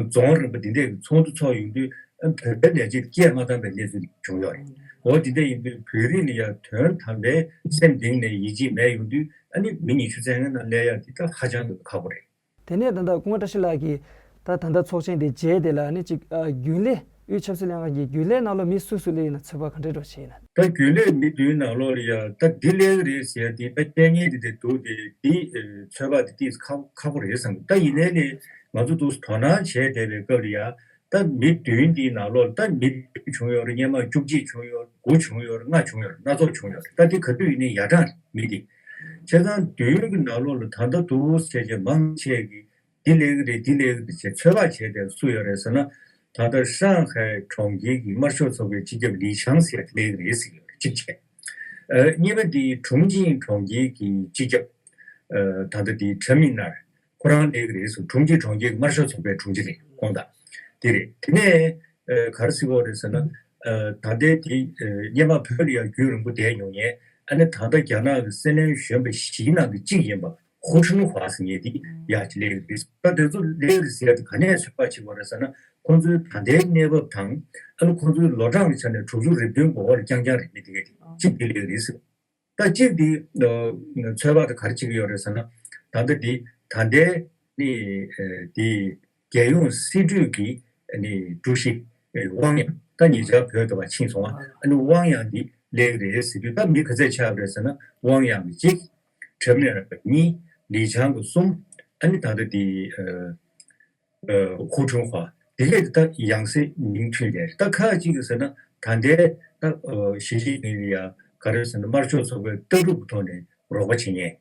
རྫོང་རིམ་པ་འདི་འདྲས་ཀྱི་ཚོགས་འདུ་འཚོགས་ཡོང་དུས་བོད་པའི་ལས་བྱེད་སྐྱེས་མ་ཐག་པའི་གནས་ཚུལ་བྱུང་ཡོད་རེད། འོ་དེ་འདྲས་ཡིན་དུས་བོད་རིགས་ནི་ཡར་དོན་དམ་པའི་སེམས་གདེང་ནས་ཡིད་ཆེས་མེད་ཡོང་དུས་ཨ་ནི་མི་ཉི་ཤུ་ཚན་ལྔའི་ནང་གླས་ཡག་འདི་ད་ཧ་ཅང་གི་ཁག་པོ་རེད། དེ་ནས་ད་ལྟ་སྐུ་ངོ་བཀྲ་ཤིས་ལགས་ཀྱིས་ད་ད་ལྟ་ཚོགས་ཆེན་དེ་བརྗེས་དེ་ལ་ནི་ཅིག་རྒྱུན་ལས། དབུས་ཆབ་སྲིད་ལས་ཁང་གིས་རྒྱུན་ལས་ནང་ལོགས་མི་སུ་སུ་ལས་ཡིན་ན་ཚོད་དཔག་ག་འདྲའི་སྒྲོག་བྱས་ཡིན་ན། ད་རྒྱུན་ལས་མི་བདུན་ནང་ལོགས་ལ་ཡང་ད་འདི་ལས་ཀྱི་རེད་ཟེར་དེ་ད་རྐྱེན་ངན་འདི་འདི་འདུག་དེ་འདི་ཚོད་དཔག་འདི་ཏིག་ཁག་པོ་རེད་བསམ་གི་ད་ཡིན་ནའི་ནི་ང་ཚོ་ཏུགས་སུ་དོ་སྣང་བྱས་བསྡད་པའི་སྐབས་ལ་ཡང་ད་མི་བདུན་འདི་ནང་ལོགས་ལ་ད་མི་བདུན་བྱུང་ཡོད་རེད་སྙན་མང་བཅུ་གཅིག་བྱུང་ཡོད་རེད་དགུ་བྱུང་ཡོད་རེད་ལྔ་བྱུང་ཡོད་རེད་སྣ་ཚོགས་བྱུང་ཡོད་རེད་ད་འདི་ག་དུས་ཡིན་ནའི་ཡ་གྲངས་རེད་མི་འདི་ཁྱེད་རང་བདུན་གྱི་ནང་ལོགས་ལ་ད་ད་ཏུགས་ཟེར་བྱས་མང་ཆེ་གི་འདི་ལེགས་རེད་འདི་ལེགས་རེད་ཅེས་ཚོད་དཔག་བྱེད་མཁན་སུ་ཡོད་རེད་ཟེར་ན། ད་ལྟ་ཧྲང་ཧའེ་གྲོང་ཁྱེར་གྱི་དམར་ཤོག་ཚོགས་པའི་སྤྱི་ཁྱབ་ལི་ཆང་སི་ཡ་ལེགས་རེད་ཟེར་གྱི་ཡོད་རེད་གཅིག་བྱས། གཉིས་པ་འདི་ཁྲུང་ཆིང་གྲོང་ཁྱེར་གྱི་སྤྱི་ཁྱབ། ད་ལྟ་འདི་ཁྲེན་མིན་ནར་ཁོ་རང་ལེགས་རེད་ཟེར་ཁྲུང་ཆིང་གྲོང་ཁྱེར་གྱི་དམར་ཤོག་ཚོགས་པའི་དྲུང་ཆེ་རེད་དགོངས་དག་འདི་རེད། དེ་ནས་གར་སི་ཀོ་རེད་ཟེར་ན། ད་ལྟའི་འདི་སྙེ་མ་བོད་ལ་ཡང་རྒྱུས་རིང་པོ་བསྡད་མྱོང་ངེས་ཨ་ནི་ད་ལྟ་རྒྱ་ནག་གི་སྲིད་བློན་གཞོན་པ་བཞིའི་ནང་གི་གཅིག་ཡིན་པ་ཧུའུ་ཁྲུན་ཧུའ་ཟེར་མཁན་དེ་ཡ་ཅི་ལེ་ཡོད་རེད། ད་དེ་ཚོ་ལེ་ཡོད་ཟེར་དུས་ག་ནས་ཚོད་དཔག་བྱེད་དགོས་རེད་ཟེར་ན་ཁོང་ཚོའི་ད་ལྟའི་གནས་བབ་དང། ཨ་ལོ་ཁོང་ཚོའི་ལོ་གྲངས་ཀྱི་ཆ་ནས་དྲུག་ཅུ་རེ་བདུན་གོ་བ་ལ་རྐྱང་རྐྱང་རེད་མི་དེ་གས་དེ་གཅིག་དེ་ལེ་ཡོད་རེད་ཟེར། ད་གཅིག་དེ་ཚོད་དཔག་དེ་ག་རེ་བྱེད་ཀྱི་ཡོད་རེད་ཟེར་ན། ད་ལྟ་དེ་ད་ལྟའི་ནི་དེ་རྒྱལ་ཡོངས་སྲིད་གྲོས་ཀྱི་ནི་ཀྲུའུ་ཞི་ཝང་ཡང་ད་ཉེ་ཆར་བོད་དུ་བ་ཕྱིན་སོང་བ་ཨ་ནི་ཝང་ཡང་དེ་ལེ་ཡོད་རེད་ཟེར་དུས་ད་མི་ག་ཚད་ཆགས་ཡོད་རེད་ཟེར་ན་ཝང་ཡང་གཅིག་བྲབ་ནས་རག་པ་གཉིས། ལི་ཆང་གི་གསུམ། ཨ་ནི་ད་ལྟ་འདི། ཧུ་ཁྲུང་བྷ། དེ་ལས་ད་ཡང་སི་ཉིང་ཁྲིན་ལས་རེད་ད་ཁ་ཅིག་གིས་ཟེར་ན་ད་ལྟའི་ད་ཞི་ཅིན་ཕིང་ལས་ཡང་ག་རེ་ཟེར་ན་དམར་ཕྱོགས་ཚོགས་པའི་ལྟ་གྲུབ་ཀྱི་ཐོག་ནས་རོགས་པ་བྱེད་ཉེན།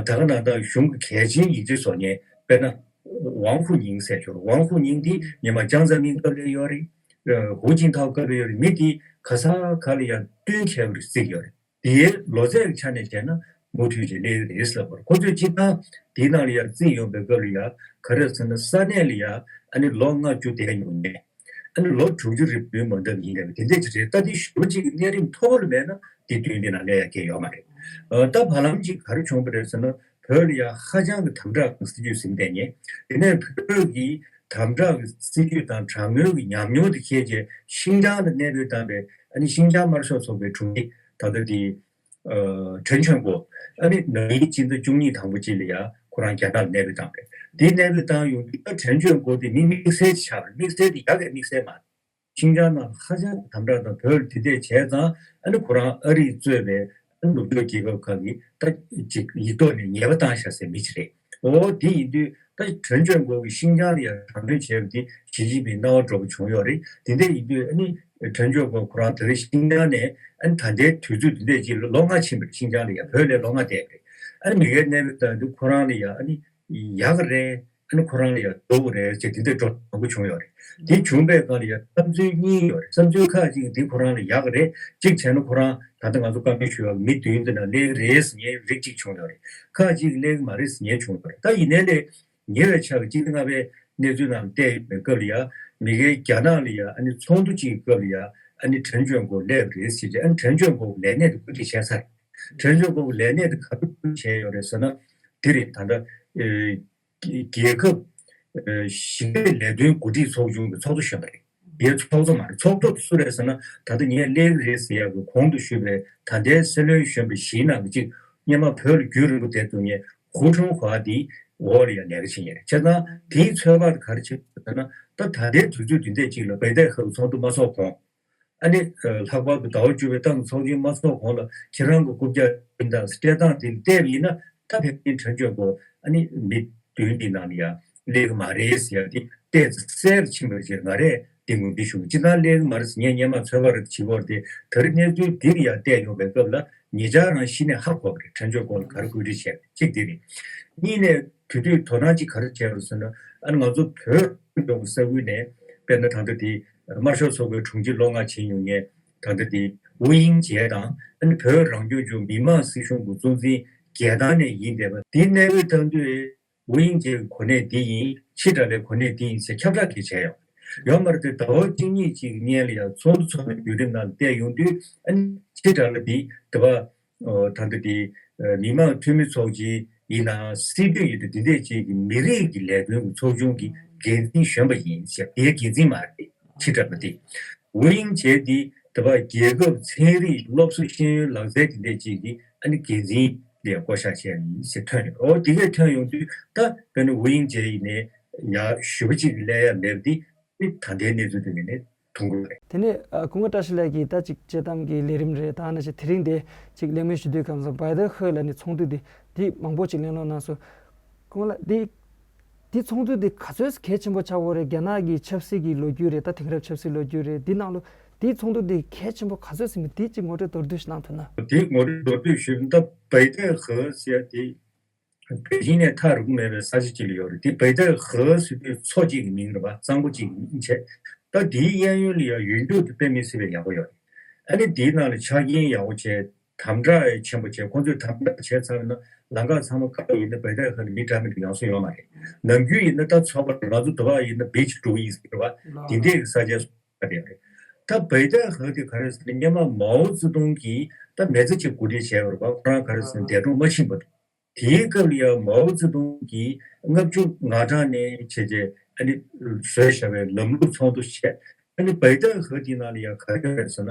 ད་ག་ནང་ད་གཞུང་གི་གལ་ཆེན་ཡིག་ཆ་བཟོ་ཉེན་དཔེར་ན། ཝང་ཧུ་ཉིང་བསད་ཆོག་ཝང་ཧུ་ཉིང་འདི་ཉི་མ་ཅང་ཙེ་མིན་སྐབས་ལས་ཡོད་རེད། ཧུའུ་ཅིན་ཐའོ་སྐབས་ལས་ཡོད་རེད་མི་འདི་ག་ས་ག་ལ་ཡང་བསྟུན་མཁས་པ་རེད་བརྩིས་ཡོད་རེད། དེའི་ལོ་ཚད་ཀྱི་ཆ་ནས་བྱས་ན་མུ་མཐུད་ཀྱི་གནས་ཡུལ་རེད་ཟེར་བར་ཁོ་ཚོས་ཅི་ཐང་དེའི་ནང་ལ་ཡར་བརྩིས་ཡོང་པའི་སྐབས་ལ་ཡང་ག་རེ་ཟེར་ན་ས་གནས་ལ་ཡང་ཨ་ནི་ལོ་ལྔ་བཅུ་བསྡད་མྱོང་ནས་ཨ་ནི་ལོ་དྲུག་ཅུ་རེ་བུད་མ་འདབ་ཡིན་ནའི་དེ་འདྲས་ཀྱི་རེད་ལྟ་དེ་གཞོན་པོ་གཅིག་གི་གནས་རིམ་མཐོ་པོ་ལ་མེད་ན་དེ་དུས་འདི་ན་གནས་ཡག་སྐྱེས་ཡོད་མ་རེད་ལྟ་བར་ལམ་གཅིག་ག་རེ་བྱུང་བ་རེད་ཟེར་ན་བོད་ལ་ཡང་ཧ་ཅང་གི་དམ་དྲག་དང་སྲིད་ཇུས་ཟིན་བསྡད་ངེས། དེ་ནས་བོད་ཀྱི་དམ་དྲག་གི་སྲིད་ཇུས་དང་དྲག་གནོན་གྱི་ཉམས་མྱོང་དེ་ཁྱེད་ཀྱིས་ཤིང་ཅང་ལ་གནས་སྤོས་བཏང་པའི་ཨ་ནི་ཤིང་ཅང་དམར་ཤོག་ཚོགས་པའི་དྲུང་ཆེ་ད་ལྟ་དེ། ཁྲེན་ཆོན་གོ། ཨ་ནི་ནང་དབྱིན་སྤྱི་མཐུན་བཅུ་གཉིས་དང་པོ་སྤྱི་ལ་ཡང་ཁོ་རང་རྒྱ་ནག་ལ་གནས་སྤོས་བཏང་པས་དེ་གནས་སྤོས་བཏང་ཡོང་དུས་ད་ཁྲེན་ཆོན་གོ་དེ་མི་དམིགས་བསལ་གྱི་ཆགས་པ་རེད་དམིགས་བསལ་དེ་ཡག་གི་དམིགས་བསལ་མ་རེད། ཤིང་ཅང་རྣམས་ཧ་ཅང་གི་དམ་དྲག་དང་བོད་ལ་དེ་ལྟས་བྱས་ཙང་ཨ་ནི་ཁོ་རང་ཨ་རིས་གཙོས་པའི་ཨ་ནུབ་ཕྱོགས་རྒྱལ་ཁབ་ཁག་གིས་ད་ཅིག་ཡིག་ཐོག་ནས་ཉེས་པ་བཏང་བཞག་སའི་མི་ཅིག་རེད་འོ་དེ་ཡིན་དུས་ད་ཅིག་དོན་གཅོད་མགོ་གི་ཤིང་ཅང་ལ་ཡང་དྲག་གནོན་བྱས་པ་དེ་ཞི་ཅིན་ཕིང་རྣ་བ་དྲོ་པོ་བྱུང་ཡོད་རེད་དེ་ལྟས་ཡིན་དུས་ཨ་ནི་དོན་གཅོད་མགོ་ཁོ་རང་ད་རེས་ཤིང་ཅང་ནས་ཨ་ནི་ད་ལྟའི་དུས་ཚོད་དེ་ལྟས་ཅིག་ལ་ལོ་ལྔ་ཕྱིན་པ་རེད་ཤིང་ཅང་ལ་ཡང་བོད་ལས་ལོ་ལྔ་འདས་པ་རེད་ཨ་ནི་མི་ཁའི་གནས་བབ་ལྟར་དུ་ཁོ་རང་ལ་ཡང་ཨ་ནི། ཡག་གི་རེད། ཨ་ནི་ཁོ་རང་ལ་ཡག་འགྲོ་གི་རེད་ཅེས་དེ་འདོད་སྤྲོ་ལ་མང་པོ་བྱུང་ཡོད་རེད། དེ་བྱུང་པའི་སྐབས་ལ་ཡང་བསམ་ཚུལ་གཉིས་ཡོད་རེད་བསམ་ཚུལ་ཁག་ཅིག་འདི་ཁོ་རང་ལ་ཡག་གི་རེད་གཅིག་བྱས་ན་ཁོ་རང་ད་ལྟ་ང་ཚོ་བཀའ་བློན་ཞུ་ཡག་གི་མི་བདུན་འདི་ན་སླེབས་གི་རེད་ཟེར་ཉེན་རིགས་གཅིག་བྱུང་ཡོད་རེད། ཁག་ཅིག་སླེབས་གི་མ་རེད་ཟེར་ཉེན་བྱུང་ཡོད་རེད་ད་ཡིན་ནའི་ལས་ཉེ་བའི་ཆར་གཅིག་ལྔ་པའི་གནས་ཚུལ་རྣམས་བལྟས་ཡོད་པའི་སྐབས་ལ་ཡང་མི་ཁའི་རྒྱ་ནག་ལ་ཡང་ཨ་ནི་ཚོགས་འདུ་གཅིག་གི་སྐབས་ལ་ཡང་ཨ་ནི་དྲན་བཅོས་འགོ་སླེབས་གི་རེད་ཟེར་རྗེས་ཨ་ནི་དྲན་བཅོས་འགོ་ལས་གནས་འདི་ཀུན་གྱིས་བཤད་ས་རེད། དོན་གཅོད་པོ་ལས་གནས་དེ་ག་དུས་བསྡུ་བྱས་ཡོད་རེད་ཟེར་ན། འདི་རེད་ད། རྒྱལ་ཁབ་ཞིང་ལས་ལས་དོན་འགོ་ཁྲིད་ཚོགས་ཆུང་གི་ཚོགས་གཙོ་གཞོན་པ་རེད། དེའི་ཚོགས་གཙོ་མ་རེད་ཚོགས་གཙོ་སུ་རེད་ཟེར་ན་ད་ལྟ་ངས་གླེང་གི་རེད་ཟེར་ཡག་གི་གོང་དུ་ཞུས་པའི་ད་ལྟའི་སྲིད་བློན་གཞོན་པ་བཞིའི་ནང་གི་གཅིག་སྙེ་མ་བོད་ལ་རྒྱུན་རིང་པོ་བསྡད་འདུག་ངས་ཧུའུ་ཁྲུང་ཧྭ་དེ་འོག་ལ་ཡང་ལས་ཀ་བྱེད་ངེས་རེད་བྱས་ཙང་དེའི་ཚོད་དཔག་དེ་ག་རེ་བྱེད་དགོས་ཟེར་ན། ད་ད་ལྟའི་དུས་ཚོད་འདི་འདས་ཅིག་ལ་བེ་ཏའི་ཧྭ་གི་ཚོགས་འདུ་མ་ཚོགས་གོང། ཨ་ནི། ལྷག་པར་དུ་ཟླ་བ་བཅུ་པའི་ཏང་གི་ཚོགས་ཆེན་མ་འཚོགས་གོང་ལ་ཁྱེད་རང་གི་རྐུབ་བཀྱག་ཡིན་དང་སྤྲད་སྟངས་དེ་ལྟས་པ་ཡིན་ན་ད་ཕན་ཚུན་དྲན་བརྗོད་དགོ་ཨ་ནི། མི་བདུན་འདི་ནང་ནས་ཡང་ཀླད་ཀི་མ་རེད་ཟེར་ཡག་འདི་ལྟས་ཚེ་གསལ་རེ་ཕྱིན་པར་བྱེད་ང་རས་འདི་ངོས་འཛིན་ཞུ་གི་སྤྱི་ཚང་ཀླད་ཀི་མ་རེད་ཟེར་ངས་བརྙན་མ་འཚོལ་བ་རེད་བྱིས་བོར་དེ་ད་རི་གནས་ཚུལ་འདི་ནི་ཡང་ལྟས་ཡོང་པའི་སྐབས་ལ་ངེད་ཅག་རང་གཞི་ནས་ཧ་གོ་བ་རེད་དྲན་བརྗོད་སྐོར་ལ་ག་རེ་བཀོད་སྒྲིག་བྱས་གཅིག་འདི་རེད། གཉིས་ནས་དུས་དུས་དོ་སྣང་གཅིག་ག་རེ་བྱས་པ་རེད་ཟེར་ན་ཨ་ནི་ང་ཚོ་བོད་ལྗོངས་ཀྱི་ས་ཁུལ་ནས་དཔེར་ན་ད་ལྟ་དེ། དམར་ཤོག་ཚོགས་པའི་དྲུང་ཆེ་བློ་མངའ་བྱེད་མྱོང་མཁན་ད་ལྟ་དེ་ཝུ་དབྱིང་ཇེ་དང་ཨ་ནི་བོད་རང་སྐྱོང་ལྗོངས་མི་དམངས་སྲིད་གཞུང་གི་གཙོ་འཛིན་རྒྱལ་ཐང་ནས་ཡིན་བསྡད་པ། དེ་གནས་སྤོས་བཏང་དུས་ཝུ་དབྱིང་ཇེ་གི་གོ་གནས་འདི་ཡིན་ཕྱི་དགྲ་ལའི་གོ་གནས་འདི་ཡིན་ཟེར་ཁྱབ་བསྒྲགས་གིས་བྱས་ཡོང། ཡོང་མ་རེད་དེ་ཟླ་བ་གཅིག་གཉིས་ཅིག་གི་སྔན་ལ་ཡང་ཚོགས་འདུ་ཚོགས་ནས་བརྒྱུད་རིམ་ནང་བལྟས་ཡོང་དུས་ཨ་ནི་ཕྱི་དགྲ་ལ་འདི་འདི་བ། ད་ལྟ་དེ་མི་དམངས་འཐུས་མི་ཚོགས་ཆེན་ཡིན་ནའང་སྲིད་དོན་ཡོད་དུས་འདི་འདྲས་བཅས་ཀྱི་མི་རིགས་ཀྱི་ལས་དོན་གྱི་ཚོགས་ཆུང་གི་འགན་འཛིན་གཞོན་པ་ཡིན་ཞེས་དེའི་འགན་འཛིན་མ་རེད་ཕྱི་དྲག་པ་དེ་ཝུ་དབྱིང་ཇེ་དེ་ད་བར་རྒྱལ་ཁབ་ཚན་རིག་སློབ་གསོ་ཤེས་ཡོན་ལག་རྩལ་དེ་འདྲས་བཅས་ཀྱི་ཨ་ནི་འགན་འཛིན་ལས་བསྐོ་བཞག་བྱས་ཡིན་ཞེས་ཐོན་ཡོད་ཨོ་དེ་གས་ཐོན་ཡོང་དུས་ད་བས་ན་ཝུ་དབྱིང་ཇེ་ཡིན་ནས་ཡག་ཞུ་བ་གཅིག་གི་སླད་ཡག་མེད་པ་དེ་ད་ལྟའི་གནས་ཚུལ་དུ་ཡིན་ནས། ཐོན་གོ་རེད། དེ་ནས་ཀུན་དགའ་བཀྲ་ཤིས་ལགས་ཀྱིས་ད་ཅིག་དཔྱད་གཏམ་གྱི་ལས་རིམ་རེད་ད་ནི་ཅིག་དེ་རིང་འདི་ཅིག་གླེང་མོལ་ཞུ་དུས་ཁམས་བཟང་བཱེ་ཏེ་ཧོས་ལ་ནི་ཚོགས་འདུ་འདི་འདི་མང་པོ་ཅིག་གླེང་སློང་གནང་སོང། ཀུན་ལགས་འདི་འདི་ཚོགས་འདུ་འདི་ག་ཚོད་གལ་ཆེན་པོ་ཆགས་འོང་རེད་རྒྱ་ནག་གི་ཆབ་སྲིད་ཀྱི་ལོ་རྒྱུས་རེད་ད་དེང་རབས་ཆབ་སྲིད་ལོ་རྒྱུས་རེད་འདི་གནང་ལོ་འདི་ཚོགས་འདུ་འདི་གལ་ཆེན་པོ་ག་ཚོད་ཟིན་པ་འདི་ཅིག་ངོ་སྤྲོད་མདོར་བསྡུས་གནང་ཐུབ་ན། འདི་ངོ་སྤྲོད་མདོར་བསྡུས་ཞུས་ན་ད་བཱེ་ཏེ་ཧོས་ཟེར་ཡ་འདི་བོད་གཞིས་ནས་ཐག་རིང་པོ་མེད་པའི་ས་ཆ་གཅིག་ལ་ཡོད་རེད་དེ་བེ་ཏའི་ཧེའུ་ཟེར་དུས་མཚོ་གཅིག་གི་མིང་རེད་པ་གཙང་པོ་གཅིག་གི་མིང་བྱས། ད་དེའི་གཡས་གཡོན་ལ་ཡང་ཡུལ་འགྱུར་དུ་དཔེ་མི་སྲིད་པའི་ཡག་པོ་ཡོད་རེད། ཨ་ནི་དེའི་ནང་ལ་ཆ་རྐྱེན་ཡག་པོ་བྱས། དམ་དྲག་ཆེན་པོ་བྱས་ཁོང་ཚོས་དམ་དྲག་བྱས་ཚར་བས་ན་ལམ་ཁ་ཚང་མ་བཀག་པ་ཡིན་ན་བེ་ཏའི་ཧེའུ་ལ་མི་དྲག་མི་དྲག་ཡོང་ས་ཡོད་མ་རེད། ནམ་རྒྱུན་ཡིན་ན་ད་ཚོགས་པ་ལ་ང་ཚོ་འདུ་བ་ཡིན་ན་བེ་ཅི་འགྲོ་གི་ཡིན་ཟེར་བ་དེ་འདྲས་ཀྱི་ས་ཆའི་སོ། ཁ་བསྟན་འདུག་ད་བའི་ཏའི་ཧའེ་ཏི་གྷ་རེ་སི་ནི་སྙེ་མ་མའོ་ཙེ་ཏུང་གིས་ད་མེ་ཙེ་ཆེ་གོ་སྒྲིག་བྱས་པར་བར་ཁོ་རང་གྷ་རེ་སི་ནི་འདས་གྲོངས་མ་ཕྱིན་པ་འདུག་དེའི་སྐབས་ལ་ཡང་མའོ་ཙེ་ཏུང་གིས་ལྔ་བཅུ་ང་གྲངས་ནས་བྱས་རྗེས་ཨ་ནི་བཟོས་བཞག་པའི་ལམ་ལུགས་ཚོགས་འདུ་བྱས། ཨ་ནི་བའི་ཏའི་ཧའེ་ཏི་ནང་ལ་ཡང་ག་རེ་ཡོད་ཟེར་ན་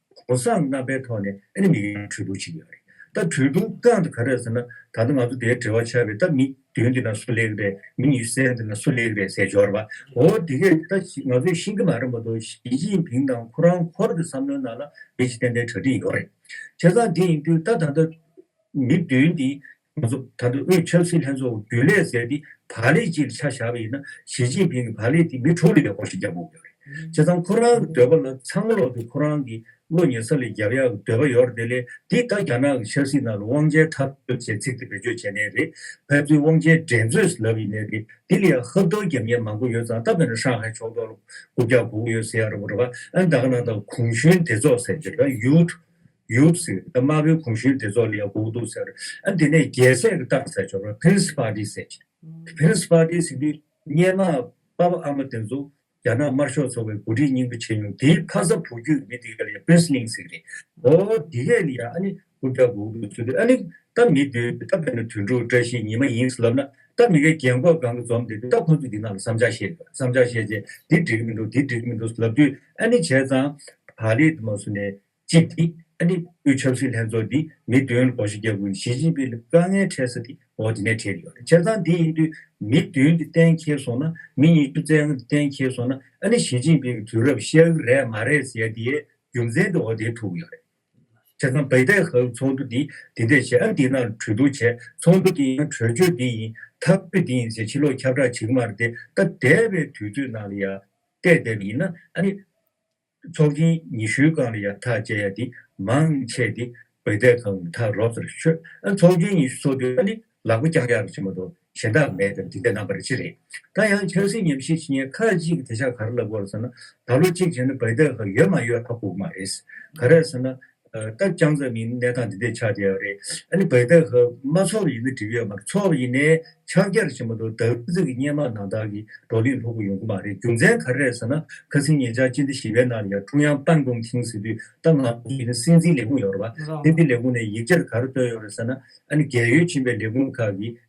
གོ་ས་ལྔ་པའི་ཐོག་ནས་ཨ་རི་མི་ཡོང་གྲོས་བསྡུར་བྱེད་ཀྱི་ཡོད་རེད། ད་གྲོས་བསྡུར་བསྐངས་ཏེ་ག་རེད་ཟེར་ན། ད་ལྟ་ང་ཚོ་དེའི་འབྲེལ་བ་ཆགས་པས་ད་མི་བདུན་འདི་ན་སུ་ལེགས་རེད་མི་གཉིས་གསལ་འདི་ན་སུ་ལེགས་རེད་ཟེར་འབྱོར་བ། འོ་དེ་གས་དེ་ད་ང་ཚོའི་ཤེས་ཀྱི་མ་རེད་མ་གཏོགས་ཞི་ཅིན་ཕིང་དང་ཁོ་རང་འཁོར་གྱི་བསམ་བློའི་ནང་ལ་འདི་ཇི་ཏན་ཏན་གྲ་སྒྲིག་ཡོད་རེད། བྱས་ཙང་དེ་ཡིན་དུས་ད་ད་ལྟ་མི་བདུན་འདི་ང་ཚོ་ད་དུང་ཨེ་ཆབ་སྲིད་ལྷན་ཚོགས་ཀྱི་རྒྱུན་ལས་ཟེར་ཏེ་བག་ལེབ་ཅིག་ཆ་བཞག་པ་ཡིན་ན་ཞི་ཅིན་ཕིང་གི་བག་ལེབ་དེ་མི་དྲུག་ལས་ཡག་པོ་ཞིག་རྒྱག་མ་དགོས་རེད། བྱས་ཙང་ཁོ་རང་གི་འདོད་པ་ལ་ཚང་ལོག་དེ་ཁོ་རང་གི་བློ་ཉེ་ས་ལས་རྒྱབ་ཡག་གི་འདོད་པ་ཡོད་རེད་ལས་འདི་ལྟ་རྒྱ་ནག་གི་ཆབ་སྲིད་ནང་ལ་དབང་ཆའི་འཐབ་རྩོད་ཅེས་ཚིག་དེ་བེད་སྤྱོད་བྱས་ནས་རེད་ཕེབས་ཚུལ་དབང་ཆའི་འགྲན་རྩོད་ཞིག་ལབ་ཡིན་ནའི་རེད་དེ་ལས་ཡག་ཧབ་དོ་རྒྱབ་ཉེན་མང་པོ་ཡོད་ཙང་ད་བེད་ན་ཧྲང་ཧའེ་ཕྱོགས་གཏོགས་ལ་དགུ་བརྒྱ་གོ་གོ་ཡོད་ཟེར་ཡག་རེད་མོ་རེད་བ་ཨན་ད་ག་ནང་ད་གུང་གཞོན་སྡེ་ཚོགས་ཟེར་ཡོད་རེད་ཡུའུ་ཡོད་ཟེར། ད་དམར་པོའི་གུང་གཞོན་དེ་ཚོ་ལས་སྒུག་འདུག་ཟེར། ཨ་འདི་ནས་རྒྱལ་སྲས་ཀྱི་རྟགས་ཟེར་ཆོག་རོ Prince Party ཟེར་གྱི། Prince Party ཟེར་དུས། སྙན་ངག་དཔའ་བོ་ཨ་མ་དེ་ཚོ། རྒྱ་ནག་དམར་ཤོག་ཚོགས་པའི་འགོ་ཁྲིད་སྙིང་པོ་བྱས་མྱོང་དེའི་ཕ་བཟའ་བུ་རྒྱུད་ཀྱི་མི་དེ་ག་ལས Prince Ling ཟེར་གི། ཨོ་དེ་གས་ནི་ཡང་ཨ་ནི་སྐུ་རྒྱ་སྒུག་འདུག་ཟེར་དུས་ཨ་ནི། ད་མི་སྡོད་དེ་ད་བས་ན་དུས་འཁྲུག་བཀྲ་ཤིས་ཉི་མ་ཡིན་ཟེར་ལབ་ན། ད་མི་གས་རྒྱན་གོས་གང་གི་འཛོམས་དེ་དུས་ད་ཁོ་ཚོས་འདི་ནང་ལ་བསམ་འཆར་བཤད་དགོས་བསམ་འཆར་བཤད་རྗེས་འདི་འགྲིག་གི་མི་འདུག་འདི་འགྲིག་གི་མི་འདུག་ཟེར་ལབ་དུས་ཨ་ནི་བྱས་ཙང། བ་ལི་དེ་མ་སུ་ནས། གཅིག་གིས་ཨ་རིའི་དབུས་ཆབ་སྲིད་ལྷན་ཚོགས་འདིས་མི་བདུན་ལ་གོ་ཤེས་རྒྱལ་པོ་ཞི་ཅིན་པི་ལ་དཀའ་ངལ་འཕྲད་ས་དེ་འོ་དེ་ནས་འཕྲད་ཀྱི་ཡོད་རེད་བྱས་ཙང་དེ་ཡིན་དུས་མི་བདུན་དེ་གཏན་འཁེལ་སོང་ན་མི་ཉི་ཤུ་བཙན་ང་དེ་གཏན་འཁེལ་སོང་ན་ཨ་ནི་ཞི་ཅིན་པི་གི་དུས་རབས་ཤེས་གི་རེད་མ་རེད་ཟེར་དེའི་རྒྱུ་མཚན་དེ་འོ་དེ་ཐུག་གི་ཡོད་རེད། བྱས་ཙང་བེ་ཏའི་ཧྭ་ཨུ་ཚོགས་འདུ་འདི་དེ་འད་བྱས་ཨ་དེ་ནང་གྲོས་བསྡུར་བྱས་ཚོགས་འདུ་དེ་ཡང་གྲོས་ཆོད་དེ་ཡིན་ཐག་གཅོད་དེ་ཡིན་ཟེར་ཕྱི་ལོག་ཁྱབ་བསྒྲགས་བྱེད་གི་མ་རེད་དེ་ད་འདས་པའི་དུས་ཚོད་ནང་ལ་ཡང་བལྟས་བསྡད་པ་ཡིན་ན་ཨ་ནི། ཚོགས་ཆེན་ཉི་ཤུའི་སྐབས་ལ་ཡང་ཐག་བཅད་ཡ་དེ་མང་ཆེ་དེ་བོད་སྡེ་ཁག་མི་ཐག་རོབ་སར་ཆོད་ཨ་ཚོགས་ཆེན་ཉི་ཤུ་ཚོགས་དུས་ཨ་ནི་ལག་པ་བཀྱག་ཡ་རུ་ཆེ་མ་གཏོགས་གཞན་དག་མེད་དེར་དེ་འདྲ་ནང་པར་ཅི་རེད་ད་ཡང་ཆབ་སྲིད་ཉམས་ཞིབ་བྱེད་མཁན་ཁ་ཅིག་གི་དེ་ཆ་ག་རུ་ལབ་དགོས་ར་ཟེར་ན་ད་ལོ་གཅིག་བྱས་ན་བོད་སྡེ་ཁག་ཡོད་མ་ཡོད་ཧ་གོ་གི་མ་རེད་ག་རེ་ཟེར་ན་སྟབས་ཅང་ཙམ་ཡིན་ན་གནས་སྟངས་འདི་འདྲས་ཆགས་བསྡད་པ་རེད། ཨ་ནི་བོད་དག་དམར་ཚོགས་ལ་ཡིན་ན་འགྲིག་ཡོད་མ་རེད་ཚོགས་པ་ཡིན་ནའི་ཕྱག་རྒྱར་ཕྱིན་མ་གཏོགས་དག་ཚིག་གི་སྙན་མང་ནང་དག་གི་བགྲོ་གླིང་ལྷུག་པོ་ཡོང་གི་མ་རེད་རྒྱུ་མཚན་ག་རེ་རེད་ཟེར་ན་ཁ་སིང་ཉེ་ཆར་སྤྱི་ཟླ་བཞི་པའི་ནང་ཡར་ཀྲུང་དབྱང་པན་ཀོང་ཐིང་ཟེར་དུས་ད་ང་ཚོ་ཡིན་ན་སྲིད་འཛིན་ལས་ཁུངས་ཡོད་རེད་བ་སྲིད་འཛིན་ལས་ཁུངས་ནས་ཡིག་ཆར་ག་རེ་བཏོན་ཡོད་རེད་ཟེར་ན་ཨ་ནི་རྒས་ཡོལ་ཕྱིན་པའི་ལས་ཁུངས་ཁག་གིས་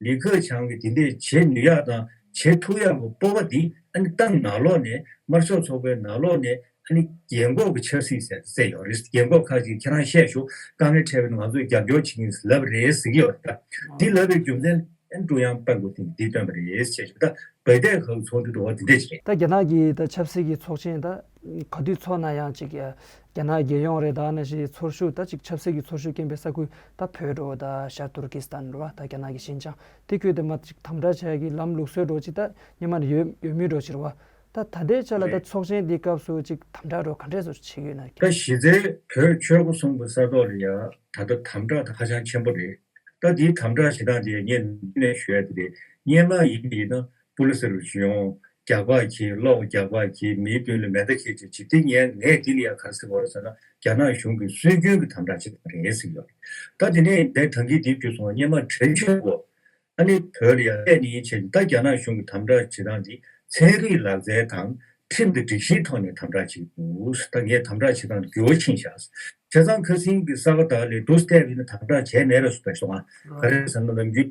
ལི་ཁེ་ཆང་གིས་དེ་འདྲའི་བྱེད་ནུས་ཡག་དང་བྱེད་ཐུགས་ཡག་པོ་སྤོབས་པ་འདིས་ཨ་ནི་ཏང་ནང་ལོགས་ནས་དམར་ཤོག་ཚོགས་པའི་ནང་ལོགས་ནས་ཨ་ནི་རྒན་འགོག་གི་ཆབ་སྲིད་ཟེར་བསད་ཡོད་རེད་རྒན་འགོག་ཁག་ཅིག་ཁྱེད་རང་བཤད་ཞོག་དཀའ་ངལ་འཕྲད་པའི་ནང་ང་ཚོས་རྒྱབ་སྐྱོར་བྱེད་ཀྱིན་ལབ་རེད་ཟེར་གྱི་ཡོད་རེད་ད་འདི་ལབ་པའི་རྒྱུ་མཚན་ཨན་ཀྲུང་དབྱང་པར་འགོ་ཐེངས་འདི་བཏོན་པ་རེད་ཅེས་བཤད་ཞོག་ད་བོད་སྡེ་ཁག་གི་ཚོགས་འདུ་འགྲོ་བ་འདི་འདྲས་ཆེ། ད་རྒྱ་ནག་གི་ད་ཆབ་སྲིད་ཀྱི་ཚོགས་ཆེན་ད། ག་དུས་ཚོགས་ན་ཡང་ཅིག་རྒྱ་ནག་རྒྱལ་ཡོངས་རེ་དག་ན་ཞིག་ཚོར་ཤུགས་དང་ཅིག་ཆབ་སྲིད་ཀྱི་ཚོར་ཤུགས་སྐྱེན་པའི་ས་ཁུལ་དང་བོད་འགྲོ་བ་དག་ཤར་ཏུར་ཀི་སི་ཐན་འགྲོ་བ་དག་རྒྱ་ནག་གི་ཤིན་ཅང་དེ་བསྐྱོད་དེ་མ་ཅིག་དམ་དྲག་བྱས་ཀྱི་ལམ་ལུགས་སྲོལ་འགྲོ་ཅིག་དག་ཉི་མ་ནས་ཡོད་ཡོད་མུས་འགྲོ་ཕྱིར་བ་དང་ད་ལྟའི་ཆ་ལ་དག་ཚོགས་ཆེན་དེའི་སྐབས་སུ་ཅིག་དམ་དྲག་འགྲོ་ག་འདྲས་སུ་བྱེད་ཡོད་ན། ད་གཞི་རྩའི་བོད་ཆོལ་སྐུ་གསུམ་གྱི་ས་ཐོག་ལ་ཡང་ད་ལྟ་དམ་དྲག་དེ་ཧ་ཅང་ཆེན་པོ་རེད། ད་འདིའི་དམ་དྲག་བྱེད་སྟངས་དེ་ངས་ནུས་མེད་ཤོད་དེ་རེད་སྙན་ལགས་ཡིན་ཡིན་ན་སྤུ་ལ་སེར་བའི་བྱུས་ཡོང། རྒྱགས་པགས་གྱིས་ཀློག་རྒྱགས་པགས་གྱིས་མིའི་མདུན་ལ་མེ་མདའ་འཁྱེར་ཏེ་འཇིག་རྟེན་ངན་ངས་འདི་ལ་ཡང་གར་སིག་གོ་ཟེར་ན་རྒྱ་ནག་གཞུང་གི་སྲོལ་རྒྱུན་གྱི་དམ་དྲག་ཅིག་དང་རེད་ཟེར་གྱི་ཡོད་རེད། ད་དེ་ནས་བདེན་དྲང་གིས་འདི་བརྒྱུད་སོང་བ་སྙེ་མ་བྲེལ་ཆོད་དོ། ཨ་ནི་བོད་ལ་ཡང་གཏད་ནི་ཡིན་བྱས་ནས་ད་རྒྱ་ནག་གཞུང་གི་དམ་དྲག་བྱེད་སྟངས་འདི་ཚན་རིག་ལག་རྩལ་དང་ཁྲིམས་ཀྱི་སྒྲིག་གཞིའི་ཐོག་ནས་དམ་དྲག་བྱེད་ཀྱི་འདུག་ད་ངས་དམ་དྲག་བྱེད་སྟངས་འདི་འགྱུར་བ་ཕྱིན་བཞག་བྱས་ཙང་ཁ་སིང་གི་ས་ག་དག་ལས་གྲུ་སྟེགས་ཡིན་ན་དམ་དྲག་བྱས་མེད་པའི་བཟོ་པ་ཡིན། ག་རེ་ཟེར་ན་ལམ་རྒྱུད།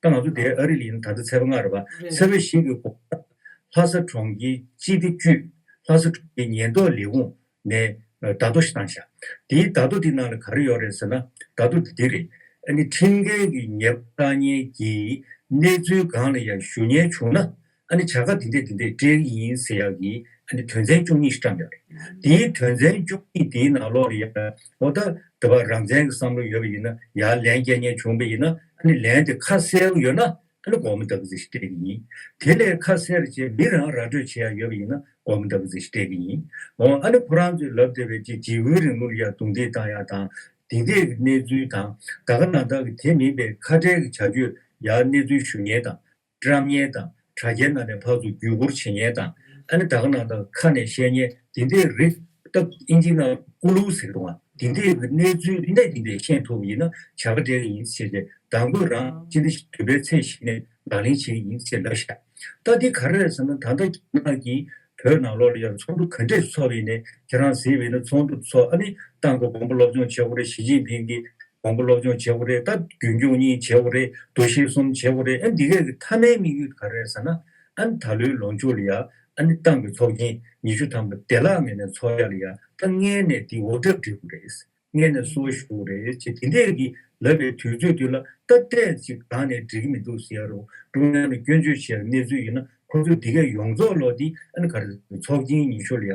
ད་ང་ཚོ་དེའི་ཨ་རི་ལ་ཡིན་ད་ལྟ་ཚལ་པ་ལྔ་རེད་པ་ཚལ་པའི་ཞིང་གི་གོང་ས་ལྷ་ས་གྲོང་ཁྱེར་སྤྱི་བདེ་ཅུས་ལྷ་ས་གྲོང་ཁྱེར་ཉེན་རྟོག་ལས་ཁུངས་ནས་བརྡ་ཐོ་ཞིག་བཏང་ཤག་དེའི་བརྡ་ཐོ་དེ་ནང་ལ་ག་རེ་ཡོད་རེད་ཟེར་ན་བརྡ་ཐོ་དེ་འདི་རེད་ཨ་ནི་ཁྲིམས་འགལ་གྱི་ཉེས་པ་བཏང་ཉེན་གྱི་གནས་ཚུལ་སྒང་ལ་ཡང་ཞུ་ཉེན་བྱུང་ན། ཨ་ནི་བྱ་དགའ་འདི་འདི་འདི་འདི་སྤྲད་ཀྱི་ཡིན་ཟེར་ཡག་གི་ཨ་ནི་དོན་ཚན་བཅུ་གཉིས་ཤིག་བཀྲམས་ཡག་རེད། དེའི་དོན་ཚན་བཅུ་གཉིས་དེའི་ནང་ལོག་ལ་ཡག་འོ་ད་འདི་བ་རང་བཙན་གྱི་བསམ་བློ་ཡོད་པ་ཡིན་ན་ཡག་ལན་བསྐྱལ་ཉན་བྱུང་པ་ཡིན་ན་ཨ་ནི་ལན་དེ་ཁ་གསལ་བོ་ཡོད་ན་ཨ་ནི་སྒོར་མོ་ལྡབ་བརྒྱ་ཟིག་སྤྲད་ཀྱི་ཡིན། དེ་ལས་ཁ་གསལ་རེ་བྱེད་མི་རང་ར་སྤྲོད་བྱེད་ཡག་ཡོད་པ་ཡིན་ན་སྒོར་མོ་ལྡབ་བརྒྱ་ཟིག་སྤྲད་ཀྱི་ཡིན། འོ་ཨ་ནི་ཁོ་རང་ཚོས་ལབ་བསྡད་པའི་ཅིག་ཇི་ཧུའི་རིང་ལུགས་ལ་ཡར་རྡུང་རྡེག་བཏང་ཡག་དང་དེ་འདས་ཀྱི་གནས་ཚུལ་དང་ད་ག་ནང་དག་གི་དེ་མིན་པའི་ཁ་བྲལ་གྱི་བྱ་སྤྱོད་ཡག་གནས་ཚུལ་ཞུ་ཉན་དང། བཀྲ་ཉན་དང་དྲ་རྒྱའི་ནང་ནས་ཕར་ཚུར་བརྒྱུད་བསྐུར་བྱེད་ཉན་དང་ཨ་ནི་དག་ནང་དང་ཁ་ནས་བཤད་ཉན་དེ་འདྲའི་རིགས་སྟབས་དབྱིན་ཇིའི་ནང་སྐུ་ལུས་ཟེར་འདུག་ང་དེ་འདྲའི་གནས་ཚུལ་གནད་དེ་འདྲས་ཤེས་ཐུབ་ཡིན་ན་བྱ་དགའ་སྤྲད་གི་ཡིན་ཟེར་ཏེ་དང་པོས་རང་ཅི་འདྲ་ཞིག་དུས་པའི་ཚེ་ཞིག་ནས་ལག་ལེན་བྱེད་ཀྱི་ཡིན་ཟེར་ལབ་ཤག་ལྟ་དེ་ག་རེ་རེད་ཟེར་ན་ད་ལྟ་རྒྱ་ནག་གིས་བོད་ནང་ལོག་ལ་ཡར་ཚོགས་འདུ་ག་འདྲས་སུ་ཚོགས་ཡིན་ནས་ཁྱེད་རང་གཟིགས་འོས་ན་ཚོགས་འདུ་ཚོགས་ཨ་ནི་ཏང་གི་དགོངས་པ་སློབ་སྦྱོང་བྱེད་དགོས་རེད་ཞི་ཅིན་ཕིང་གིས་གོང་བུ་སློབ་སྦྱོང་བྱེད་དགོས་རེད་ད་རྒྱུན་སྐྱོང་གཉིས་བྱེད་དགོས་རེད་འདུ་ཤེས་གསུམ་བྱེད་དགོས་རེད་ཨ་འདི་གས་ཀྱི་མཐའ་མའི་དམིགས་ཡུལ་ག་རེད་ཟེར་ན་ཨ་ནི་ད་ལོའི་ལོ་མཇུག་ལ་ཡ་ཨ་ནི་ཏང་གི་ཚོགས་ཆེན་ཉི་ཤུ་ཐམ་པ་བདེ་བླག་ངང་ནས་འཚོགས་ཡ་ལ་ཡ་ད་སྔས་ནས་འདི་འོ་འཁྲབ་འབྲི་དགོས་རེད་སྔས་ནས་གསོ་བཞུགས་དགོས་རེད་ཅེས་དེ་འདས་ཀྱི་ལབ་པའི་དུས་ཚོད་དུས་ལ་ད་སྐད་ཅིག་དག་ནས་འབྲི་གི་མི་འདུག་ཟེར་ཡ་རུང་ཀྲུང་དབྱང་ནས་སྐྱོན་བརྗོད་བྱས་པའི་གནས་ཚུལ་ཡིན་ན་ཁོ་ཚོས་འདི་གས་ཡོངས་རྫོགས་ལོ་འདི་ཨ་ནི་ག་རེ་ཟེར་ཚོགས་ཆེན་ཉི་ཤུ་ལ་ཡ་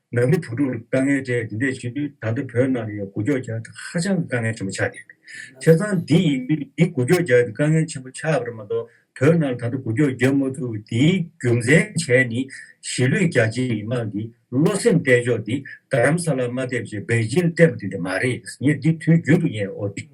ནང་མི་བུ་ཕྲུག་ལ་དཀའ་ངལ་སྤྲད་འདི་འདྲས་བྱེད་དུས་ད་ལྟ་བོད་ནང་ལ་ཡོད་རྒུ་འཇོག་རྒྱག་ཏུ་ཧ་ཅང་གི་དཀའ་ངལ་ཆེན་པོ་ཆགས་ཡོད། ཁྱེད་ཚང་འདི་ཡིན་དུས་འདི་རྒུ་འཇོག་རྒྱག་ཏུ་དཀའ་ངལ་ཆེན་པོ་ཆགས་པར་མ་གཏོགས་བོད་ནང་ལ་ད་ལྟ་རྒུ་འཇོག་རྒྱག་མ་ཐུབ་པའི་དེའི་རྒྱུ་མཚན་གྱད་ནི་གཞིས་ལུས་རྒྱ་ཆེའི་མི་མང་གི་བློ་སེམས་གཏད་ཕྱོགས་འདི་རྡ་རམ་ས་ལར་མ་བལྟས་པ་ཆེད་པེ་ཅིན་ལ་བལྟས་པ་དེ་འདྲས་མ་རེད་ངས་འདི་དུས་རྒྱུན་དུ་ངས་ཨོ་རྒྱན།